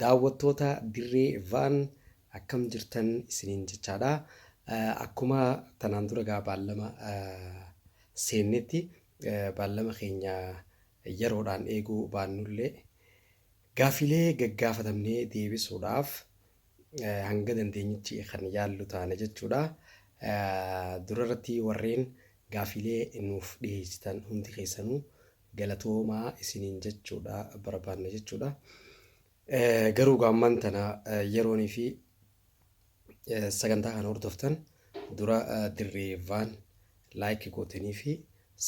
Daawwattoota Dirree Vaan akkam jirtan isiniin jechaadha. Akkuma tanaan dura egaa baallama seennetti baallama keenya yeroodhaan eeguu baannullee gaafiilee gaggaafatamnee deebisuudhaaf hanga dandeenyichi kan yaallu taana jechuudha. Durarratti warreen gaafiilee nuuf dhiheessitan hundi keessanuu galatoomaa isiniin jechuudha barbaanna jechuudha. Eh, Garuu egaa ammaan tana eh, yeroonii fi eh, sagantaa kana hordoftan dura eh, dirree vaan laayik gootanii fi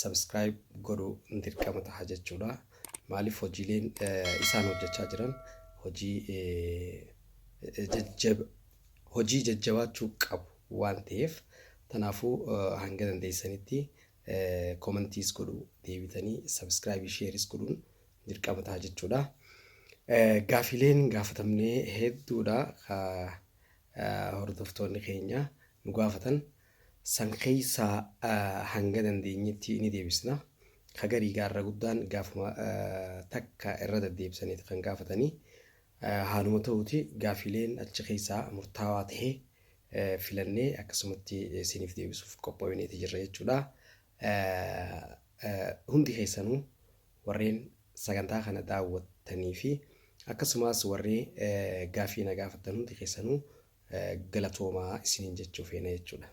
sabskiraayib godhuu dirqama taha jechuudha. Maaliif hojiileen eh, isaan hojjechaa jiran hojii eh, jajjab- hojii jajjabaachuu qabu waan ta'eef tanaafuu eh, hanga dandeessanitti Comments godhu deebitanii subscribe shares godhuun dirqama ta'a jechuudha. Gaafileen gaafatamne hedduudha ka hordoftoonni keenya nu gaafatan san keessaa hanga dandeenyetti ni deebisna. Ka garii gaarra guddaan gaafuma takka irra deddeebisaniiti kan gaafatanii Haaluma ta'uuti gaafiileen achi keessaa murtaawaa tahe filannee akkasumatti siiniif deebisuuf qophooyneeti jirra jechuudha. Hundi keessanuu warreen sagantaa kana daawwattanii fi akkasumaas warree gaafii na gaafattan hundi keessanuu galatoomaa isiniin jechuu feena jechuudha.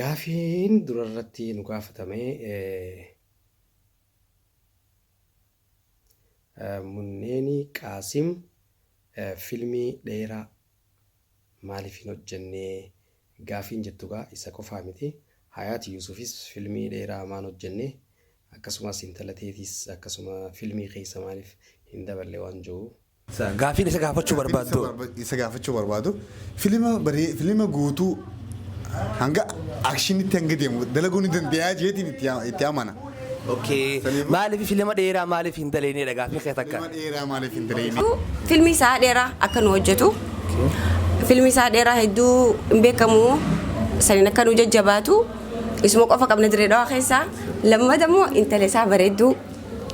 Gaafiin durarratti nu gaafatame Munneeni Qaasim filmii dheeraa maaliif hin hojjennee gaafiin jettu gaa isa qofaa miti. Hayaat Yuusufis filmii dheeraa maan hojjenne akkasumas intala teetis akkasuma filmii keessa maaliif hin daballe waan jiru. Gaaffiin isa gaafachuu barbaaddu. Gaaffiin isa gaafachuu barbaadu filima baree filima guutuu hanga akshinitti hanga deemu dalaguu ni dandeeyaa jeetiin itti yaa- itti amana. Okay. Saniif- Maaliif filima dheeraa maaliif hin daleenedha gaaffiin kee takka. Filima dheeraa maaliif hin daleenye? Filmi isaa dheeraa akka nu hojjetu. Filmi isaa dheeraa hedduu hin beekamu. Saniin akka nu jajjabaatu. Isuma qofa qabna dirree dhawaa keessaa. Lammata immoo intala isaa bareedduu.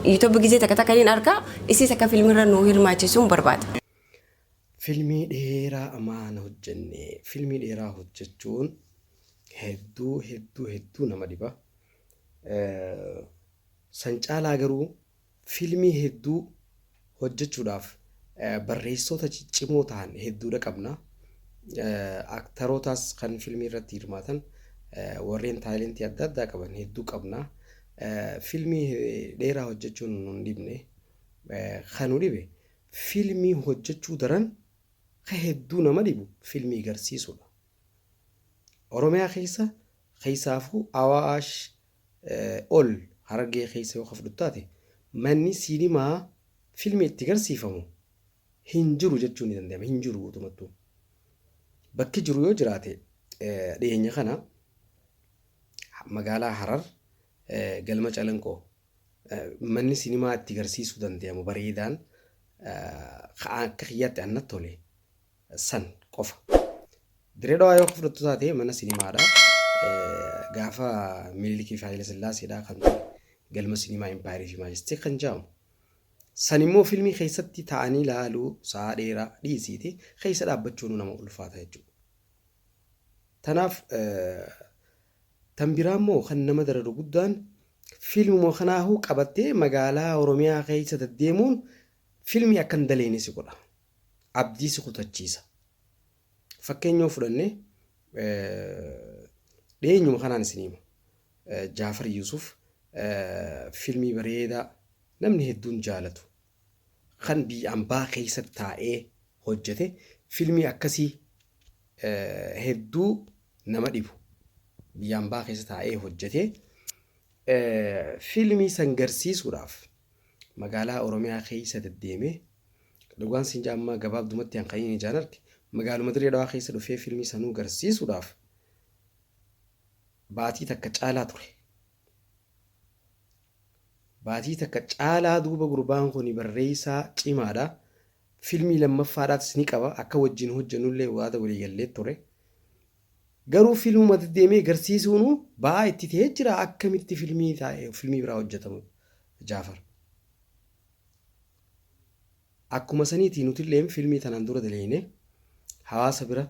Yuutuubii gisee takka takka hin arga. Isiis akka filmirra nuu hirmaachisuun barbaada. Filmii dheeraa amaa hin hojjenne. Filmii dheeraa hojjechuun hedduu hedduu hedduu nama dhiba. San caalaa garuu filmii hedduu hojjechuudhaaf barreessoota ciccimoo ta'an hedduudha qabna. Aktarootaas kan filmii irratti hirmaatan warreen taayilentii adda addaa qaban hedduu qabna. Filmii dheeraa hojjechuun nun dhibne. Ka nu dhibe filmii hojjechuu daran ka hedduu nama dhibu filmii garsiisuudha. Oromiyaa keessa keessaafuu Awaash ol Harargee keessa yoo ka fudhattu taate manni siinimaa filmii itti garsiifamu hin jiru jechuu ni danda'ama. Hin jiru guutumattuu. Bakki jiru yoo jiraate dhiyeenya kana Magaalaa Harar galma Calanqoo manni sinimaa itti garsiisuu dandeyamu bareedaan ka akka kiyyaatti annat tole san qofa. Dirree Dhawaa yoo fudhattu taate mana sinimaadha. Gaafa Minilikii fi Haayila Sillaaseedha kan ture galma sinimaa Impaayerii fi Maajestii kan jedhamu. San immoo filmii keessatti taa'anii laaluu sa'a dheeraa dhiisiiti keessa dhaabbachuun nama ulfaata jechuudha. Tanaaf tan biraa immoo kan nama dararu guddaan fiilmuma kanaahuu qabattee magaalaa Oromiyaa keessa daddeemuun fiilmii akka hin daleeyne si godha. Abdii si kutachiisa. Fakkeenya yoo fudhanne dhiyeenyuma kanaan isin hima. Jaafar Yuusuf fiilmii bareedaa namni hedduun jaalatu kan biyya ambaa keessatti taa'ee hojjete filmii akkasii hedduu nama dhibu biyya ambaa keessa taa'ee hojjete filmii san garsiisuudhaaf magaalaa oromiyaa keessa deddeemee dhugaan siin jaammaa gabaabdumatti an kaniin ijaan arge magaaluma dirree dhawaa keessa dhufee filmii sanuu garsiisuudhaaf baatii takka caalaa ture Baatii takka caalaa duuba gurbaan kuni barreessaa cimaadha. Filmii lammaffaadhaatis ni qaba. Akka wajjin hojjannullee waada walii gallee ture. Garuu filmuma deddeemee garsiisuunu ba'aa itti ta'ee jira akkamitti filmii taa'e filmii biraa hojjatamu Jaafar. Akkuma saniitii nutilleen filmii tanaan dura daleeyne hawaasa bira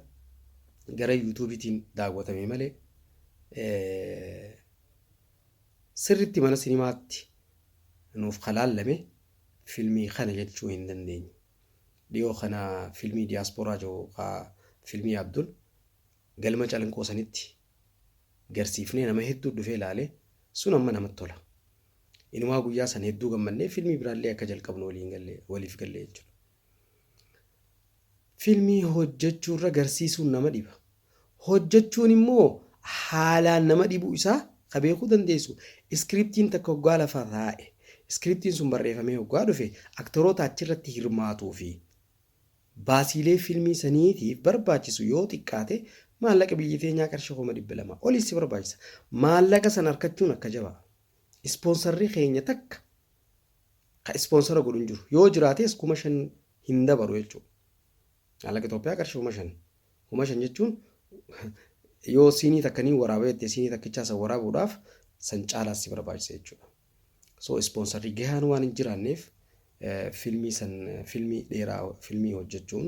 gara yuutuubiitiin daawwatame malee Sirritti mana sinimaatti nuuf ka laallame filmii kana jechuu hin dandeenyu. Dhiyoo kana filmii Diaspora jiru ka filmii Abdul galma Calanqoo sanitti garsiifnee nama hedduu dhufee laale sun amma namatti tola. Inumaa guyyaa san hedduu gammannee filmii biraallee akka jalqabnu waliin galle waliif galle jechuudha. Filmii hojjechuurra garsiisuun nama dhiba. Hojjechuun immoo haalaan nama dhibuu isaa ka beekuu dandeessu iskiriptiin takka hoggaa lafa taa'e, iskiriptiin sun barreefamee hoggaa dhufe aktoroota achirratti hirmaatuu fi baasiilee filmii saniitiif barbaachisu yoo xiqqaate maallaqa biyya teenyaa qarshii kuma 200 oli si barbaachisa. Maallaqa san arkachuun akka jabaa. Ispoonsarri keenya takka ka ispoonsara godhu hin jiru. Yoo jiraatees kuma shan hin dabaru jechuudha. Maallaqa Itoophiyaa qarshii kuma shan. Kuma shan jechuun yoo siinii takka ni waraaba jettee siinii takkichaa san waraabuudhaaf san caalaas si barbaachisa jechuudha. So ispoonsarri gahaan waan hin jiraanneef filmii san filmii dheeraa filmii hojjechuun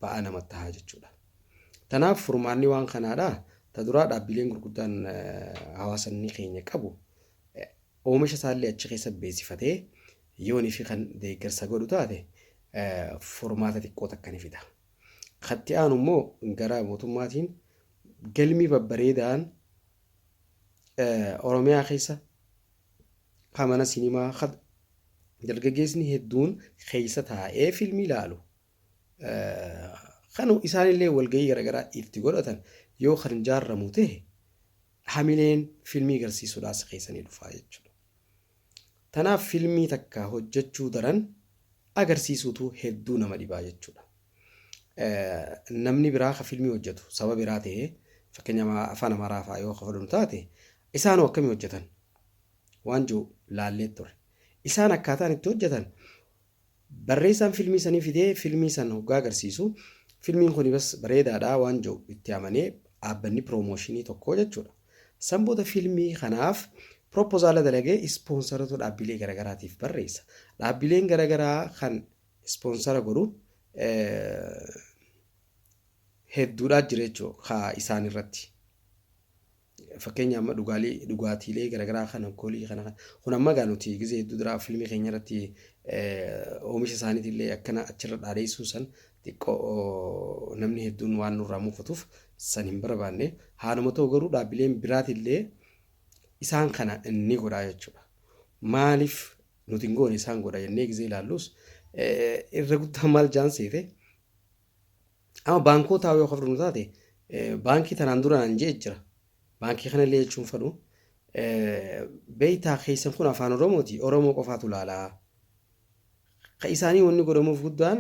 ba'aa nama tahaa jechuudha. Tanaaf furmaanni waan kanaadha. Ta duraa dhaabbileen gurguddaan hawaasanni keenya qabu oomisha isaallee achi keessa beeksifatee yoonii fi kan deeggarsa godhu taate furmaata xiqqoo takka ni fida. Katti aanu immoo gara mootummaatiin galmii babbareedaan Oromiyaa keessa Ka mana sinimaa ka dargaggeesni hedduun keessa taa'ee filmii laalu kan isaanillee walgahii garaagaraa itti godhatan yoo kan jaarramu ta'e hamileen filmii garsiisuudhaas keessanii dhufaa jechuudha. Tanaaf filmii takka hojjechuu daran agarsiisuutu hedduu nama dhibaa jechuudha. Namni biraa ka filmii hojjetu saba biraa ta'ee fakkeenyaaf afaan amaaraa fa'aa yoo ka fudhannu taate Isaan hoo akkamiin hojjetan? waan jedhu laallee turre. Isaan akkaataan itti hojjetan barreessaan filmii sanii fidee filmii san hoggaa agarsiisu filmiin kuni bas bareedaadha waan jedhu itti amanee dhaabbanni piroomooshinii tokko jechuudha. San booda filmii kanaaf piroopozaala dalagee ispoonsarota dhaabbilee garagaraatiif barreessa. Dhaabbileen garagaraa kan ispoonsara godhu hedduudhaa jira jechuudha kaa isaan irratti. Fakkeenya amma dhugaalee dhugaatiilee garagaraa kan alkoolii kana kan kun amma egaa nuti gizee hedduu duraa fiilmii keenya irratti oomisha isaaniitiin illee akkana achirra dhaadeessuun san xiqqoo namni hedduun waan nurraa muufatuuf san hin barbaanne haaluma ta'u garuu dhaabbileen biraatiin illee isaan kana ni godhaa jechuudha. Maaliif nuti hin goone isaan godha jennee gizee ilaallus irra guddaa maal jaan seete Amma baankootaa yoo kafdhu nu taate baankii tanaan dura naan je'e jira. Baankii kana illee jechuun fadhu. Beeytaa keessan kun afaan Oromooti. Oromoo qofaatu laalaa. Ka isaanii wanni godhamuuf guddaan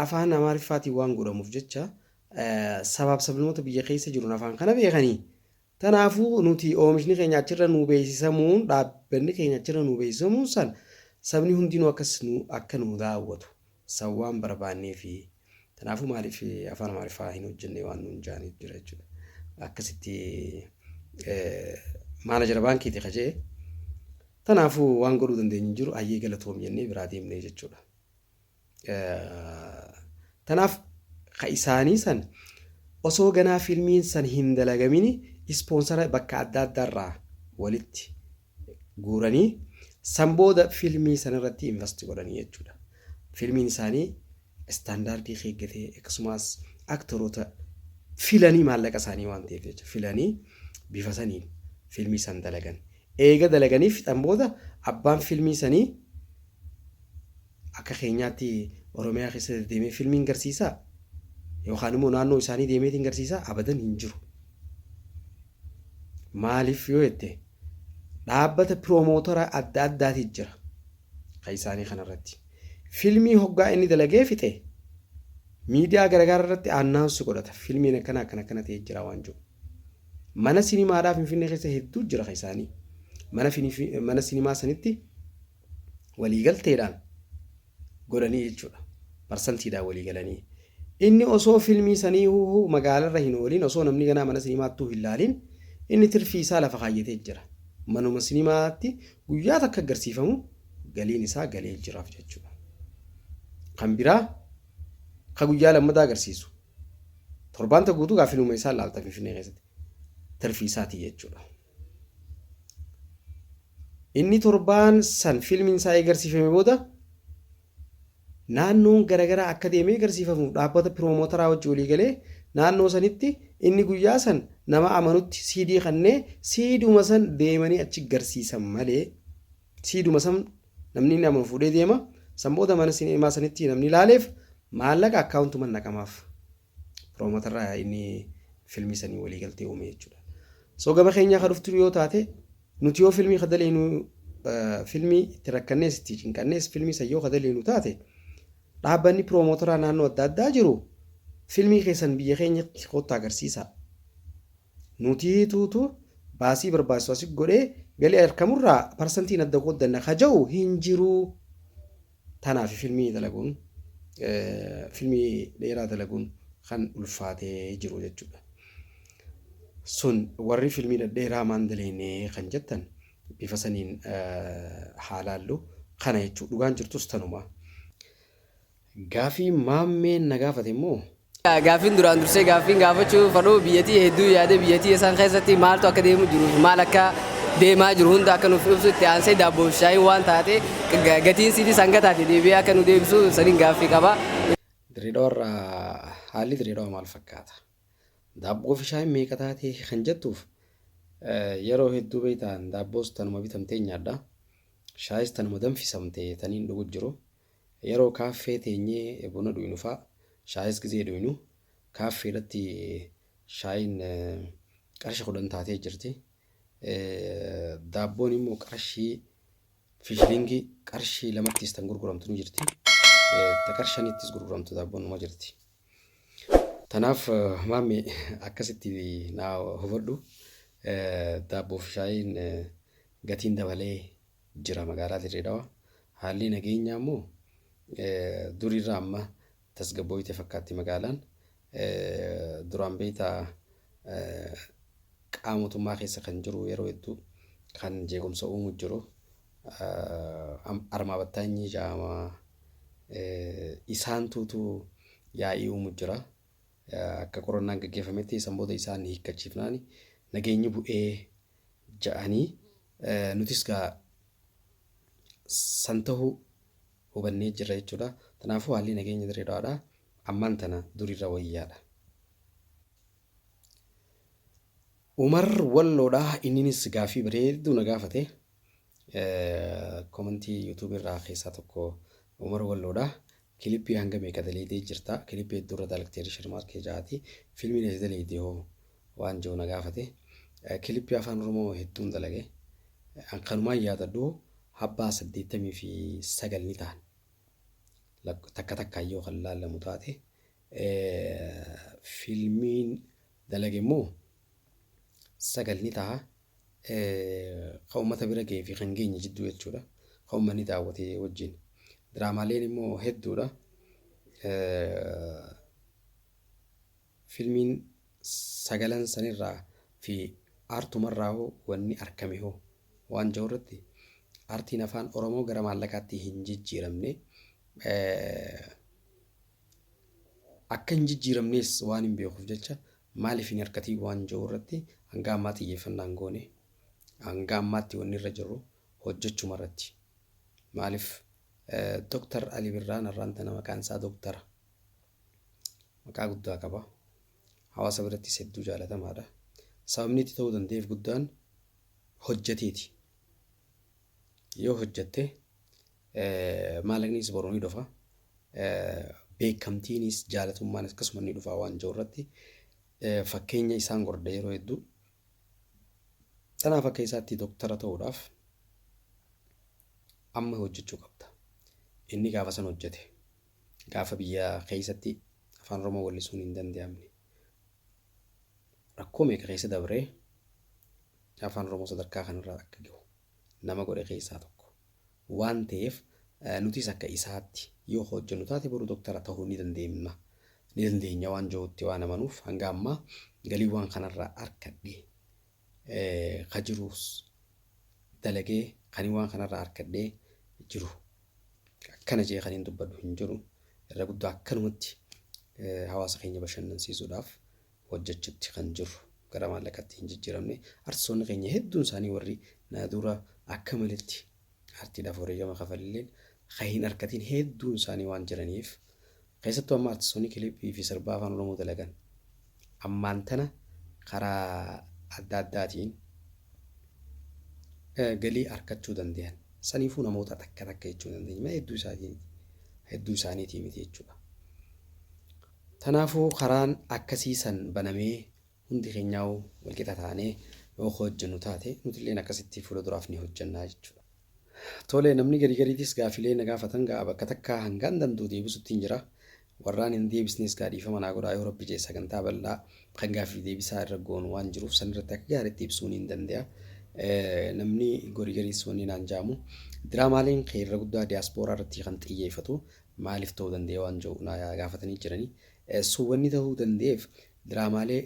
afaan Amaariffaatiin waan godhamuuf jecha sabaaf sablamoota biyya keessa jiruun afaan kana beekanii Tanaafuu nuti oomishni keenya achirra nuu beeysisamuun, dhaabbanni keenya achirra nuu beeysisamuun san sabni hundinuu akkas nu akka nuu daawwatu san waan barbaanneefi. Tanaafuu maaliif afaan Amaariffaa hin hojjannee waan nuun jaaniif jira jechuudha. Akkasitti maanajara baankiiti ka je'e. Tanaafuu waan godhuu dandeenyu hin jiru hayyee galatoomi jennee biraa deemne jechuudha. Tanaaf ka isaanii san osoo ganaa fiilmiin san hin dalagamini ispoonsara bakka adda addaarraa walitti guuranii san booda fiilmii sanarratti invasti godhanii jechuudha. Fiilmiin isaanii istaandaardii keeggatee akkasumas aktoroota filanii maallaqa isaanii waan ta'eef jecha filanii bifa saniin fiilmii san dalagan. Eega dalaganii fixan booda abbaan fiilmii sanii Akka keenyaatti Oromiyaa keessa deddeemee filmiin garsiisaa? Yookaan immoo naannoo isaanii deemeetiin garsiisaa? Abadan hin jiru. Maaliif yoo jette dhaabbata piroomootara adda addaati jira. Kan isaanii kanarratti. Filmii hoggaa inni dalagee fixe miidiyaa garagaraa irratti aannaansi godhata. Filmiin akkana akkana akkana ta'ee jira waan jiru. Mana sinimaadhaa Finfinnee keessa hedduu jira kan isaanii. Mana, mana sinimaa sanitti waliigalteedhaan godhanii jechuudha. Parsantiidhaan walii galanii. Inni osoo filmii sanii huuhuu magaalarra hin oolin osoo namni ganaa mana sinimaattuu hin laalin inni tirfii isaa lafa kaayyatee jira. Manuma sinimaatti guyyaa takka agarsiifamu galiin isaa galee jiraaf jechuudha. Kan biraa ka guyyaa lammataa agarsiisu torbaanta guutuu gaa filmuma isaa laalta finfinnee keessatti tirfii isaatii jechuudha. Inni torbaan san fiilmiin isaa eegarsiifame booda naannoon garagaraa akka deemee egarsiifamuuf dhaabbata piroomotaraa wajji walii galee naannoo sanitti inni guyyaa san nama amanutti siidii kannee siiduma san deemanii achi garsiisan malee siiduma san namni inni amanu fuudhee deema san booda mana sineemaa sanitti namni laaleef maallaqa akkaawuntuman naqamaaf. Piroomotarraa inni filmii sanii walii galtee uume jechuudha. So gama keenyaa ka dhuftu yoo taate nuti yoo filmii ka daleenu filmii itti rakkannees itti cinqannees filmii san yoo ka daleenu taate dhaabbanni piroomotaraa naannoo adda addaa jiru filmii keessan biyya keenyatti kootta agarsiisaa. Nuti tuutu baasii barbaachisu asi godhee galii arkamurraa parsantiin adda qooddanna ka ja'u hin jiruu. Tanaafi filmii dalaguun, filmii dheeraa dalaguun kan ulfaatee jiru jechuudha. Sun warri filmii dhadheeraa maan daleeyne kan jettan bifa saniin haa laallu. Kana jechuudha. Dhugaan jirtus tanuma. Gaafii Maammeen na gaafate immoo Gaaffiin duraan dursee gaaffiin gaafachuu fadhu biyyatii hedduu yaadee biyyatii isaan keessatti maaltu akka deemu jiru fi maal akka deemaa jiru hunda akka nuuf ibsu itti aansee daabboo fi shaayiin waan taate gatiin siitis hanga taate deebi'ee akka nu deebisu saniin gaaffii qaba. Dirreedawarra haalli Dirreedawa maal fakkaata? Daabboo fi shaayiin meeqa taatee kan jettuuf yeroo hedduu beektaan daabboos tanuma bitamtee nyaadha. Shaayis tanuma danfisamte taniin dhugu jiru. Yeroo kaaffee teenyee buna dhuynu fa'a, shaayis gizee dhuynu, kaaffee irratti shaayiin qarshi 10 taatee jirti. Daabboon immoo qarshii fishilingii qarshii lamattis tan gurguramtu ni jirti. Ta qarshanittis gurguramtu daabboon numa jirti. Tanaaf maammi akkasitti naa hubadhu. Daabboo fi shaayiin gatiin dabalee jira magaalaa Dirree Dhawaa. Haalli nageenyaa immoo duriirra amma tasgabbooyte fakkaatti magaalaan. Duraan beektaa qaama mootummaa keessa kan jiru yeroo hedduu kan jeequmsa uumu jiru. Armaa battaanyii jaamaa isaan tuutu yaa'ii uumu jira. Akka qorannaan gaggeeffametti san booda isaan hiikkachiifnaan nageenyi bu'ee ja'anii nutis gaa san tahuu hubannee jirra jechuudha. Tanaafuu haalli nageenya Dirree Dhawaadhaa ammaan tana duriirra wayyaadha. Umar Walloodhaa inninis gaaffii bareedduu na gaafate. Komantii YouTube irraa keessaa tokko Umar Walloodhaa. Kilippii hanga meeqa daleydee jirta kilippii hedduu irra dalagtee rishar maarkee jaati filmiin ati daleyde hoo waan jiru na gaafate kilippii afaan oromoo hedduun dalage an kanumaan yaadadhu habbaa saddeettamii fi sagal ni ta'an Lak- takka takkaan yoo kan laallamu taate Eh, filmiin dalage immoo sagal ni ta'a kan uummata bira ga'ee fi kan geenye jidduu jechuudha. Kan uummanni daawwate wajjin. Diraamaaleen immoo hedduudha. Filmiin sagalan sanirraa fi aartumarraa hoo wanni argame hoo waan jiru irratti aartiin afaan Oromoo gara maallaqaatti hin jijjiiramne. Akka hin jijjiiramnees waan hin beekuuf jecha maaliif hin hirkatiin waan jedhu irratti hanga ammaa xiyyeeffannaa hin goone. Hanga ammaatti wanni irra jirru hojjechuma irratti. Maaliif Dooktar Ali Birraan har'aan tana maqaan isaa dooktara. Maqaa guddaa qaba. Hawaasa birattis hedduu jaalatamaadha. Sababni itti ta'uu danda'eef guddaan hojjeteeti. Yoo hojjette Maallaqnis boru ni dhufa. Beekamtiinis jaalatummaan akkasuma ni dhufa waan jiru irratti fakkeenya isaan gordha yeroo hedduu. Kanaaf akka isaatti doktara ta'uudhaaf amma hojjechuu qabda. Inni gaafa san hojjete gaafa biyya keessatti afaan Oromoo wallisuun hin danda'amne. Rakkoo meeqa keessa dabree afaan Oromoo sadarkaa kanarraa akka gahu nama godhe keessaa tokko waan ta'eef nutis akka isaatti yoo hojjennu taate boru doktara ta'uu ni dandeemna ni dandeenya waan jirutti waan amanuuf hanga ammaa galii waan kanarraa arkadhe ka jiruus dalagee kan waan kanarraa arkadhee jiru akkana jee kan hin dubbadhu hin jiru irra guddaa akkanumatti hawaasa keenya bashannansiisuudhaaf hojjachutti kan jirru gara maallaqatti hin jijjiramne artistoonni keenya hedduun isaanii warri na dura akka malitti aartiidhaaf wareegama kafalleen kan hin arkatiin hedduun isaanii waan jiraniif keessattuu amma artistoonni kilipii fi sirbaa afaan oromoo dalagan ammaan tana karaa adda addaatiin galii arkachuu danda'an saniifuu namoota takka takka jechuu dandeenya hedduu isaanii hedduu isaaniitii miti jechuudha. Tanaafuu karaan akkasii san banamee hundi keenyaahuu walqixa taanee yoo ka hojjannu taate nutilleen akkasitti fuula duraaf ni hojjanna jechuudha. Tole namni garii gariitis gaafilee na gaafatan gaa bakka takkaa hangaan dand'u deebisuttiin jira. Warraan hin deebisnes gaa dhiifama naa godhaa yoo Rabbi je'e sagantaa bal'aa kan gaafiif deebisaa irra goonu waan jiruuf san irratti akka gaariitti ibsuu niin dande'a. Namni gorii gariis wanni naan ja'amu diraamaaleen kee irra guddaa diyaaspooraa irratti kan xiyyeefatu maaliif ta'uu danda'e waan jedhu na gaafatanii jiranii. So wanni ta'uu danda'eef diraamaalee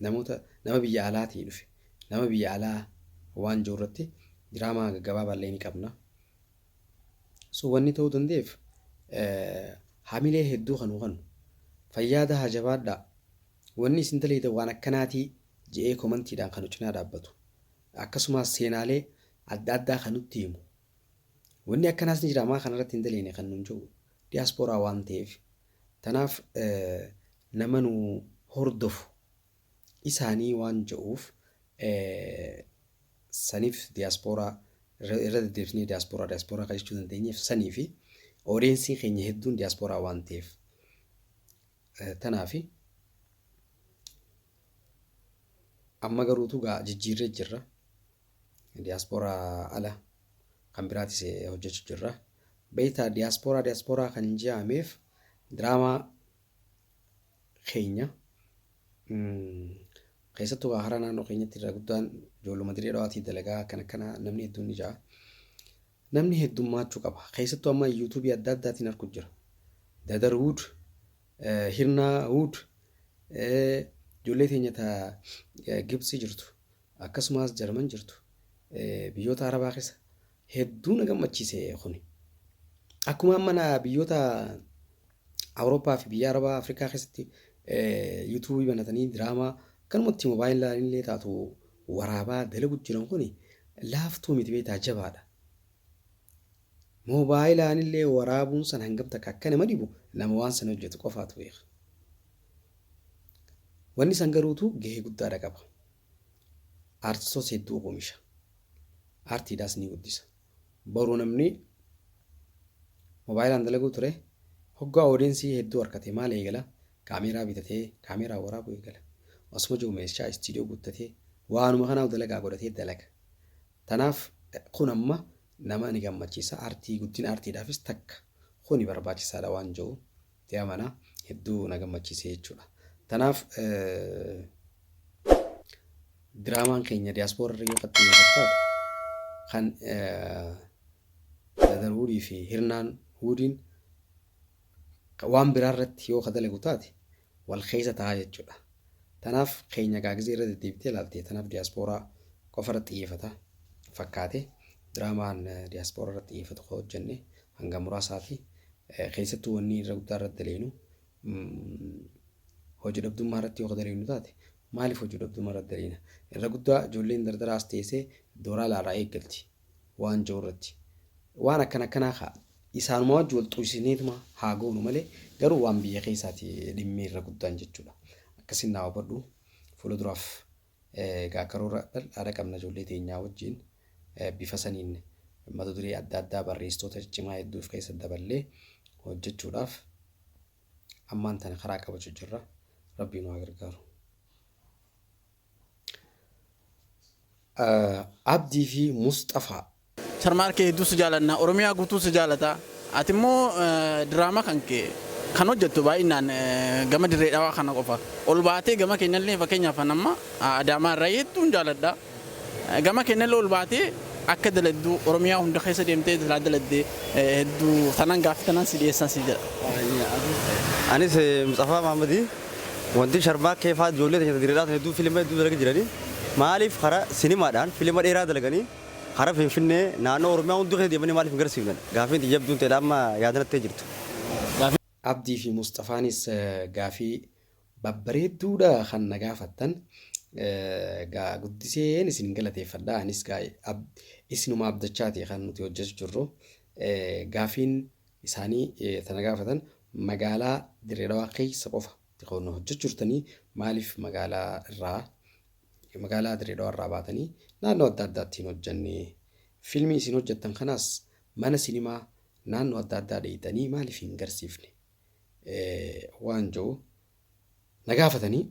namoota nama biyya alaatii dhufe nama biyya alaa waan jiru irratti diraamaa gaggabaabaallee ni qabna. So wanni ta'uu danda'eef hamilee hedduu kan hubanu fayyaa dahaa jabaadhaa wanni isin daleeydan waan akkanaatii je'ee komantiidhaan kan cinaa dhaabbatu akkasumas seenaalee adda addaa kan nutti himu Wanni akkanaas ni jira maa kana irratti hin daleene kan nuun jiru diyaaspooraa waan ta'eef tanaaf nama nu hordofu isaanii waan ja'uuf saniif diyaaspooraa irra deddeebisnee diyaaspooraa diyaaspooraa kan jechuu dandeenyeef sanii fi odeensii keenya hedduun diyaaspooraa waan ta'eef tanaafi amma garuutu gaa jijjiirree jirra. Diaspora ala kan biraatis eh, hojjechu jirra. Beektaa diaspora diaspora kan je'ameef diraamaa keenya mm, keessattuu kaa hara naannoo keenyatti irra guddaan ijoolluma dirree dhawaatii dalagaa akkana akkana namni hedduun ni ja'a. Namni heddummaachuu qaba. Keessattuu amma yuutuubii adda addaatiin argu jira. Dadar Wood, eh, Hirnaa Wood, eh, ijoollee teenya ta eh, Gibxi jirtu. Akkasumaas Jarman jirtu biyyoota Arabaa keessa hedduu na gammachiise kuni. Akkuma amma na biyyoota Awurooppaa fi biyya Arabaa Afrikaa keessatti yuutuubii banatanii diraamaa kanumatti moobaayilaa illee taatu waraabaa dalagu jiran kuni laaftuu miti beektaa jabaadha. Moobaayilaan illee waraabuun san hangam takka akka nama dhibu nama waan san hojjetu qofaatu beeka. Wanni san garuutu gahee guddaadha qaba. Aartistoota hedduu oomisha. Aartiidhaas ni guddisa. Boru namni moobaayilaan dalaguu ture hoggaa oodiyensii hedduu harkate maal eegala? Kaameeraa bitatee kaameeraa waraabuu eegala. Osuma jiru meeshaa istiidiyoo guuttatee waanuma kanaaf dalagaa godhatee dalaga. Tanaaf kun amma nama ni gammachiisa. Aartii guddina aartiidhaafis takka kuni barbaachisaadha waan jiru. Itti amana. Hedduu na gammachiise jechuudha. Tanaaf diraamaan keenya diyaaspoora irra yoo fakkii fakkaatu kan Dadar Wuudii fi Hirnaan Wuudiin waan biraa irratti yoo ka dalagu taate wal keessa ta'a jechuudha. Tanaaf keenya gaa gizee irra deddeebitee ilaalte tanaaf diyaaspooraa qofa irratti xiyyeeffata fakkaate diraamaan diyaaspooraa irratti xiyyeeffatu ka hojjenne hanga muraasaa fi keessattuu wanni irra guddaa irratti daleenu hojii dhabdummaa irratti yoo daleenu taate maaliif hojii dhabdummaa irratti daleena irra guddaa ijoolleen dardaraa as teessee dooraa laaraa eeggalti waan jiru irratti waan akkana akkanaa kaa isaanuma wajji wal xuusineetuma haa goonu malee garuu waan biyya keessaati dhimmee irra guddaan jechuudha akkasiin naa hubadhu fuula duraaf Egaa karoora bal'aadha qabna ijoollee teenyaa wajjin bifa saniin mata duree adda addaa barreessitoota ciccimaa hedduuf keessa daballee hojjechuudhaaf ammaan tana karaa qabachu jirra. Rabbii nu haa gargaaru. Abdii fi Musxafaa Sharmaar kee hedduu si jaalanna oromiyaa guutuu si jaalata ati immoo diraama kan kee kan hojjattu baay'inaan gama dirree dhawaa kana qofa ol baatee gama keenyallee fakkeenyaaf an amma adaamaa irraa hedduun jaaladha gama keenyallee ol baatee akka daladdu oromiyaa hunda keessa deemtee silaa daladde hedduu tanan gaaffi tanan si dhiyeessan si jedha. Anis Mutsafaa Maammadii wanti sharmaa keefaa ijoollee teenya dirreedhaa sana hedduu filima hedduu dalagi jiranii maaliif karaa sinimaadhaan filima dheeraa dalaganii Hara Finfinnee, naannoo Oromiyaa hunduu keessa deemanii maaliif hin garsiifne? Gaaffiin tiyya jabduun teedha amma yaada natti jirtu. Abdii fi Musxafaanis gaaffii babbareedduu dha kan na gaafattan. Egaa guddiseen isin galateeffadha. Anis egaa isinuma abdachaati kan nuti hojjetu jirru. Gaaffiin isaanii ta na gaafatan magaalaa Dirree Dhawaa keessa qofa ti kan hojjechu jirtanii maaliif magaalaa irraa Magaalaa Dirree Dhawaa irraa baatanii naannoo adda addaatti hin hojjanne. Filmii isin hojjattan kanaas mana sinimaa naannoo adda addaa dheeyxanii maaliif hin garsiifne waan jiru na gaafatanii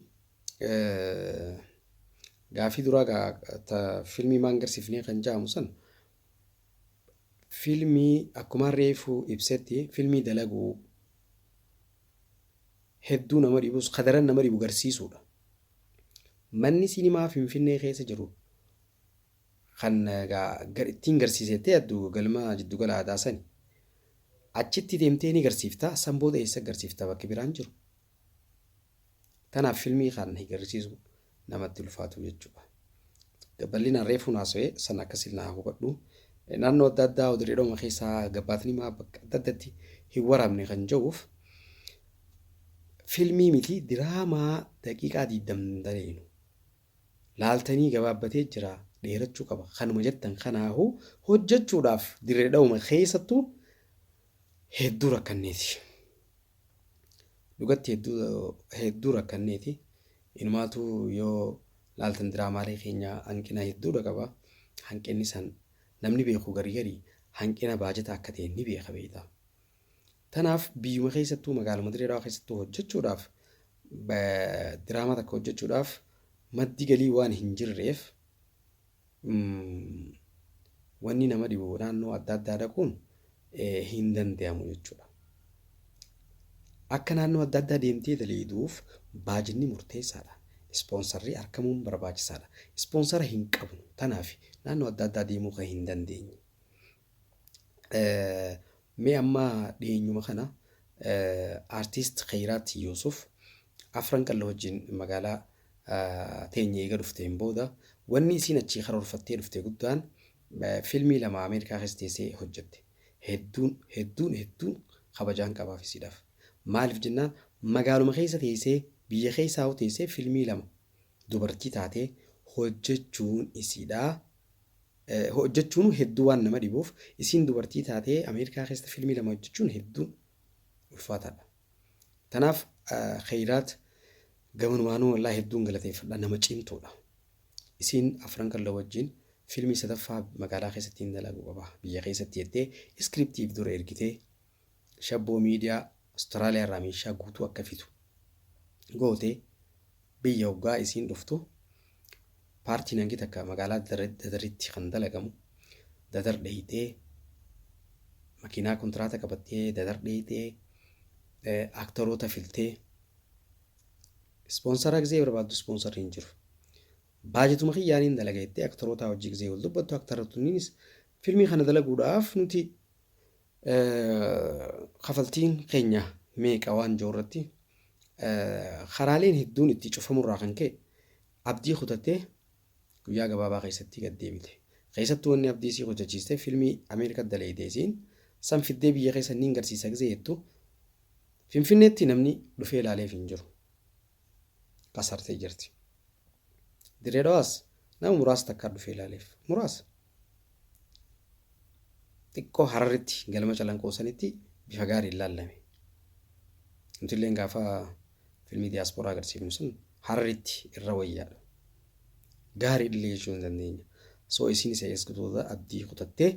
gaafii duraa gaa ta filmii maan garsiifnee kan jaamu san filmii akkumaan reefuu ibsetti filmii dalaguu hedduu nama dhibus ka daran nama dhibu garsiisuudha. Manni sinimaa Finfinnee keessa jiru kan egaa ittiin garsiisa jettee yaaddu galma jiddugala aadaa sani. Achitti deemtee ni garsiifta san booda eessa garsiifta bakki biraan jiru. Tanaaf filmii kan hin garsiisu namatti ulfaatu jechuudha. Bal'inaan reefuun haasawee sana akka silnaa hubadhu. Naannoo adda addaa dirreedhuma keessaa gabbaatni maa bakka adda addatti hin waraabne kan ja'uuf filmii miti diraamaa daqiiqaa diigdam daleenu. Laaltanii gabaabbatee jira dheerachuu qaba. Kanuma jettan kanaahu hojjechuudhaaf dirreedhuma keessattu hedduu rakkanneeti. Dhugatti hedduu rakkanneeti. Inumaatuu yoo laaltan diraamaalee keenya hanqina hedduudha qaba. Hanqinni san namni beeku gari gari hanqina baajataa akka ta'e ni beeka beektaa. Tanaaf biyyuma keessattuu magaaluma Dirree Dhawaa keessattuu hojjechuudhaaf diraamaa takka hojjechuudhaaf maddi galii waan hin jirreef wanni nama dhibu naannoo adda addaa dhaquun hin danda'amu jechuudha. Akka naannoo adda addaa deemtee daleeyduuf baajinni murteessaadha. Ispoonsarri argamuun barbaachisaadha. Ispoonsara hin qabnu tanaaf naannoo adda addaa deemuu kan hin dandeenye. Mee amma dhiyeenyuma kana artiist Khayraat Yuusuf afran qalla wajjin magaalaa teenya eega dhufteen booda wanni isiin achii karoorfattee dhufte guddaan filmii lama Ameerikaa keessa teessee hojjette. Hedduun hedduun hedduun kabajaan qabaaf isiidhaaf. Maaliif jennaan magaaluma keessa teessee biyya keessaa hoo teessee filmii lama dubartii taatee hojjechuun isiidhaa hojjechuun hedduu waan nama dhibuuf isiin dubartii taatee Ameerikaa keessa filmii lama hojjechuun hedduun ulfaataadha. Tanaaf Kheyraat gamanumaanuu wallahi hedduun galateeffadha nama cimtuudha. Isiin afran kan la wajjin fiilmii sadaffaa magaalaa keessatti hin dalagu qaba biyya keessatti jettee iskiriptiif dura ergitee shabboo miidiyaa Austraaliyaa irraa meeshaa guutuu akka fitu gootee Biyya hoggaa isiin dhuftu paartiin hangi takka magaalaa Dadaritti kan dalagamu Dadar dheeyxee makiinaa kontiraata qabattee Dadar dheeyxee aaktaroota filtee ispoonsaraa gizee barbaaddu ispoonsarri hin jiru. Baajetuma kiyyaaniin dalaga jettee aktarootaa hojii gizee wal dubbattu aktarootniinis filmii kana dalaguudhaaf nuti Kafaltiin keenya meeqa waan jiru irratti karaaleen hedduun itti cufamurraa kan ka'e abdii kutattee guyyaa gabaabaa keessatti gad deebite. Keessattuu wanni abdii isii kutachiiste filmii Ameerikaa daleeyde isiin san fiddee biyya keessa niin garsiisa gisee jettu Finfinneetti namni dhufee ilaaleef hin jiru. qasartee jirti. Dirree Dhawaas nama muraasa takkaa dhufee ilaaleef. Muraasa. Xiqqoo hararritti galma calanqoo sanitti bifa gaariin laallame. Nuti illee gaafa filmii diyaaspooraa agarsiifnu sun hararritti irra wayyaadha. Gaarii illee jechuu hin dandeenya. Soo isiin isa eesgutoota abdii kutattee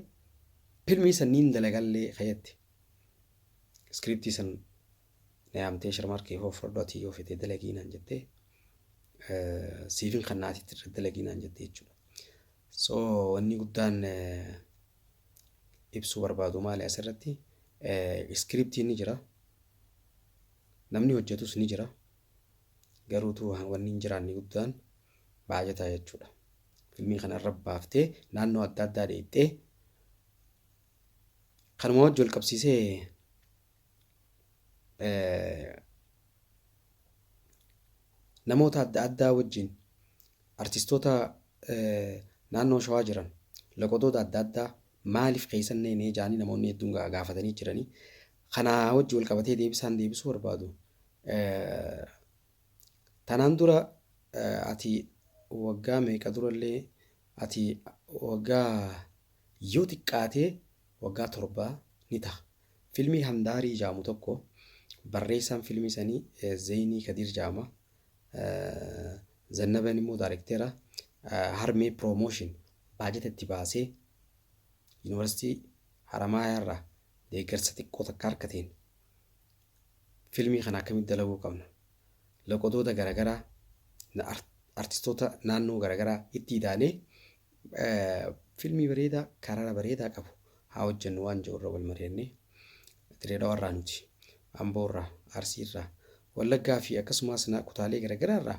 filmii sanniin dalagallee kayatte. Iskiriiptii san na yaamtee sharmaarkee hoo fudhadhu ati yoo fete dalagii naan jettee siifin kan naati itti dalagii naan jettee jechuudha. So wanni guddaan ibsuu barbaadu maali asirratti iskiriptiin ni jira namni hojjetus ni jira garuutu wanni hin jiraanne guddaan baajataa jechuudha. Filmii kana irra baaftee naannoo adda addaa dheettee kanuma wajjin wal qabsiisee namoota adda addaa wajjin artistoota naannoo shawaa jiran loqodoota adda addaa maaliif keessan neenee jaanii namoonni hedduun gaafatanii jiranii kanaa wajji wal qabatee deebisaan deebisuu barbaadu. Tanaan dura ati waggaa meeqa durallee ati waggaa yoo xiqqaatee waggaa torbaa ni ta'a. Filmii Handaarii ja'amu tokko barreessaan filmii sanii Zeynii Kadiir ja'ama. Zannaben immoo daarekteera. Harmee Promotion baajata itti baasee Yuunivarsiitii Haramaayaa irraa deeggarsa xiqqoo takka harkateen filmii kana akkamitti dalaguu qabna. Loqodoota garaagaraa artistoota naannoo garaagaraa itti idaalee Filmii bareedaa karara bareedaa qabu haa hojjennu waan jiru irra wal mari'annee Dirree Dhawaa irraa nuti Amboo irraa Arsii irraa Wallaggaa fi akkasumas na- kutaalee garaagaraa irraa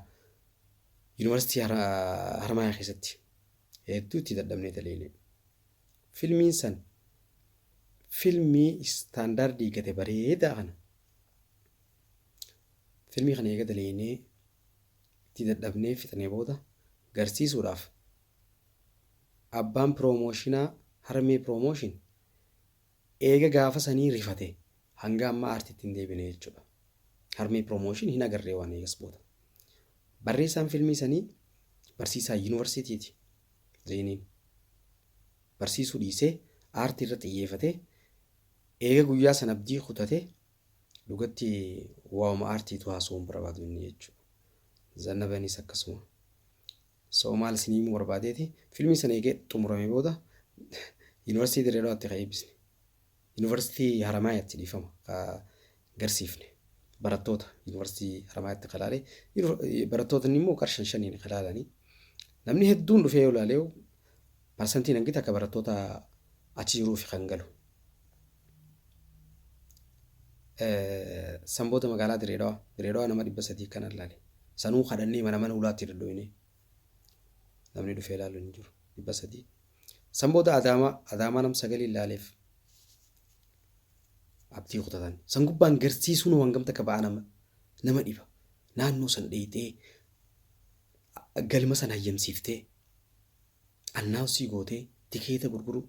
Yuunivarsiitii Har- Harmaayaa keessatti hedduu itti dadhabnee daleeynee filmiin san filmii istaandaardii gate bareedaa kana filmii kana eega daleeynee itti dadhabnee fixnee booda garsiisuudhaaf abbaan piroomooshinaa Harmee Piroomooshin eega gaafa sanii rifatee hanga ammaa aartiitti hin deebine jechuudha. Harmee Piroomooshin hin agarree waan eegas booda. Barreessaan filmii sanii barsiisaa yuunivarsiitiiti. Zeeniin barsiisuu dhiisee aartii irra xiyyeefatee eega guyyaa san abdii kutatee Dhugatti waa'uma aartiitu haasa'uu hin barbaadu inni jechuudha. Zannabanis akkasuma. So maal isin himuu barbaadeeti filmii sana eegee xumurame booda yuunivarsiitii Dirree Dhawaatti kan eebbisne. Yuunivarsiitii Haramaayaatti dhiifama kan garsiifne. Barattoota yuunivarsiitii Haramaayaatti kan laale. Barattootni immoo qarshan shaniin kan laalanii. Namni hedduun dhufee yoo laaleewu parsantiin hangi takka barattoota achi jiruuf kan galu. Sanboota magaalaa Direedawaa Direedawaa nama dhibba sadii kan allaale sanuu kadhannee mana mana ulaatti daddoinee namni dhufee ilaalu hin jiru dhibba sadii Sanboota Adaamaa Adaamaa nam sagalii ilaaleef abdii kutatan san gubbaan garsiisuun waan gamta akka ba'aa nama nama dhiba naannoo san dheeyxee galma san hayyamsiiftee announce gootee tikeeta gurguruu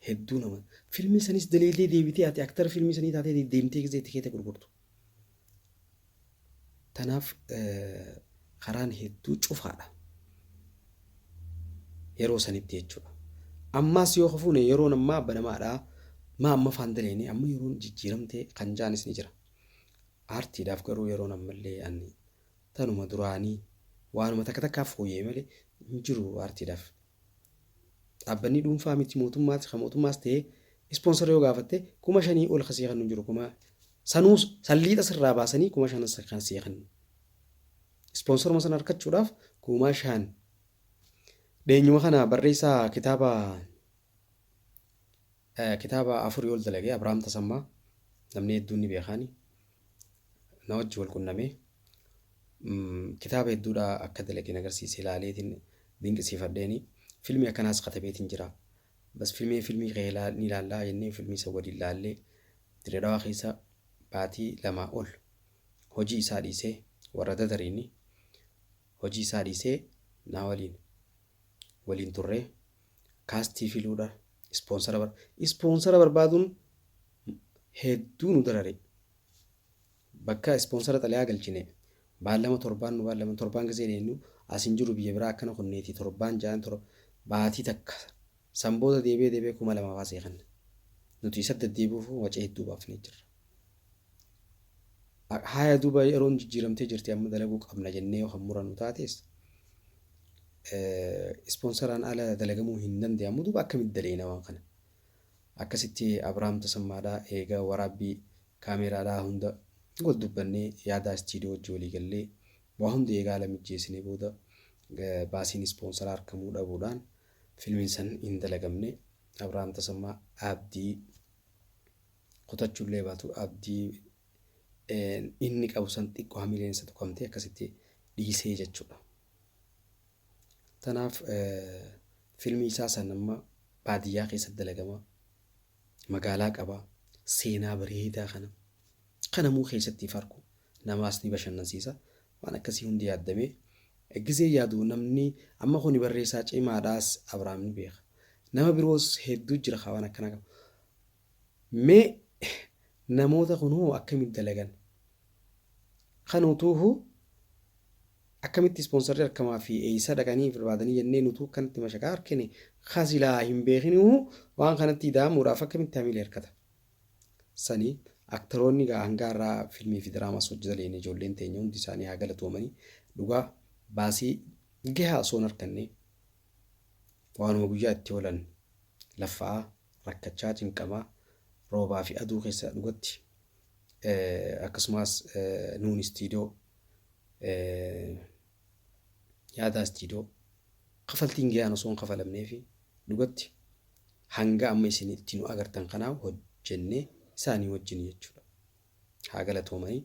hedduu nama filmii sanis daleedee deebitee ati aktara filmii sanii taatee de- deemtee gisee tikeeta gurgurtu tanaaf eh, karaan hedduu cufaadha yeroo sanitti jechuudha ammaas yoo kafuune yeroon ammaa banamaadha maa amma faan daleene amma yeroon jijjiiramtee kan jaanis ni jira aartiidhaaf garuu yeroon ammallee ani tanuma duraanii waanuma takka takkaa fooyya'e malee hin jiru aartiidhaaf. Dhaabbanni dhuunfaa miti mootummaas kan mootummaas ta'ee ispoonsara yoo gaafatte kuma shanii ol kan sii kennu hin jiru kuma sanuus salliixa sirraa baasanii kuma shanan sa- kan sii kennu. Ispoonsaruma sana argachuudhaaf kuma shan dheenyuma kana barreessaa kitaaba Kitaaba afurii ol dalage Abrahaam Tasammaa namni hedduun ni beekaani. Na wajji wal qunname. Kitaaba hedduudha akka dalage na agarsiise ilaaleetiin dinqisiifadheeni. Filmii akkanaas katabeetiin jira. Bas filmii filmii kee ni ilaallaa jennee filmii isa waliin ilaallee Dirree Dhawaa keessa baatii lamaa ol hojii isaa dhiisee warra dadariini hojii isaa dhiisee naa waliin waliin turree kaastii filuudha ispoonsara bar ispoonsara barbaaduun hedduu nu darare bakka ispoonsara xalayaa galchine baallama torbaan nu baallama torbaan gisee deemnu as hin jiru biyya biraa akkana kunneeti torbaan ja'an tor baatii takka san booda deebee deebee kuma lamaaf asee kan nuti isa deddeebi'uuf waca hedduu baafnee jirra. Haaya duuba yeroon jijjiiramtee jirti amma dalaguu qabna jennee yoo kan murannu taates ispoonsaraan ala dalagamuu hin danda'amu duuba akkamitti daleena waan kana. Akkasitti Abiraam Tasammaadhaa eegaa waraabbii kaameeraadhaa hunda wal dubbannee yaadaa istiidiyoo wajji walii gallee waa hundi eegaa ala mijjeessinee booda baasiin ispoonsaraa argamuu dhabuudhaan filmiin san hin dalagamne Abiraam Tasammaa Abdii kutachullee baatu abdii inni qabu san xiqqoo hamileen isa tuqamtee akkasitti dhiisee jechuudha. Tanaaf filmii isaa san amma baadiyyaa keessatti dalagama magaalaa qaba seenaa bareedaa kana kanamuu keessatti farku namaas ni bashannansiisa waan akkasii hundi yaaddamee gizee yaadu namni amma kun barreessaa cimaadhaas Abrahaam ni beeka nama biroos hedduu jira waan akkanaa qaba. Mee namoota kun hoo akkamitti dalagan? Kan utuuhu akkamitti ispoonsarri arkamaa fi eessa dhaqanii barbaadanii jennee nutuu akkanatti mashaqaa arkine ka silaa hin beekinihu waan kanatti ida'amuudhaaf akkamitti hamilee harkata? Sani aktaroonni gaa hangaa irraa filmii fi diraamaas hojjetaniin ijoolleen teenya hundi isaanii haa galatoomanii dhugaa baasii gahaa osoo hin harkannee. Waanuma guyyaa itti oolan laffa'aa, rakkachaa, cinqamaa, roobaa fi aduu keessa dhugatti akkasumaas nuun istiidoo yaadaa istiidoo kafaltiin gayaan osoo hin kafalamnee fi dhugatti hanga amma isin itti nu agartan kanaa hojjennee isaanii wajjin jechuudha. Haa galatoomanii.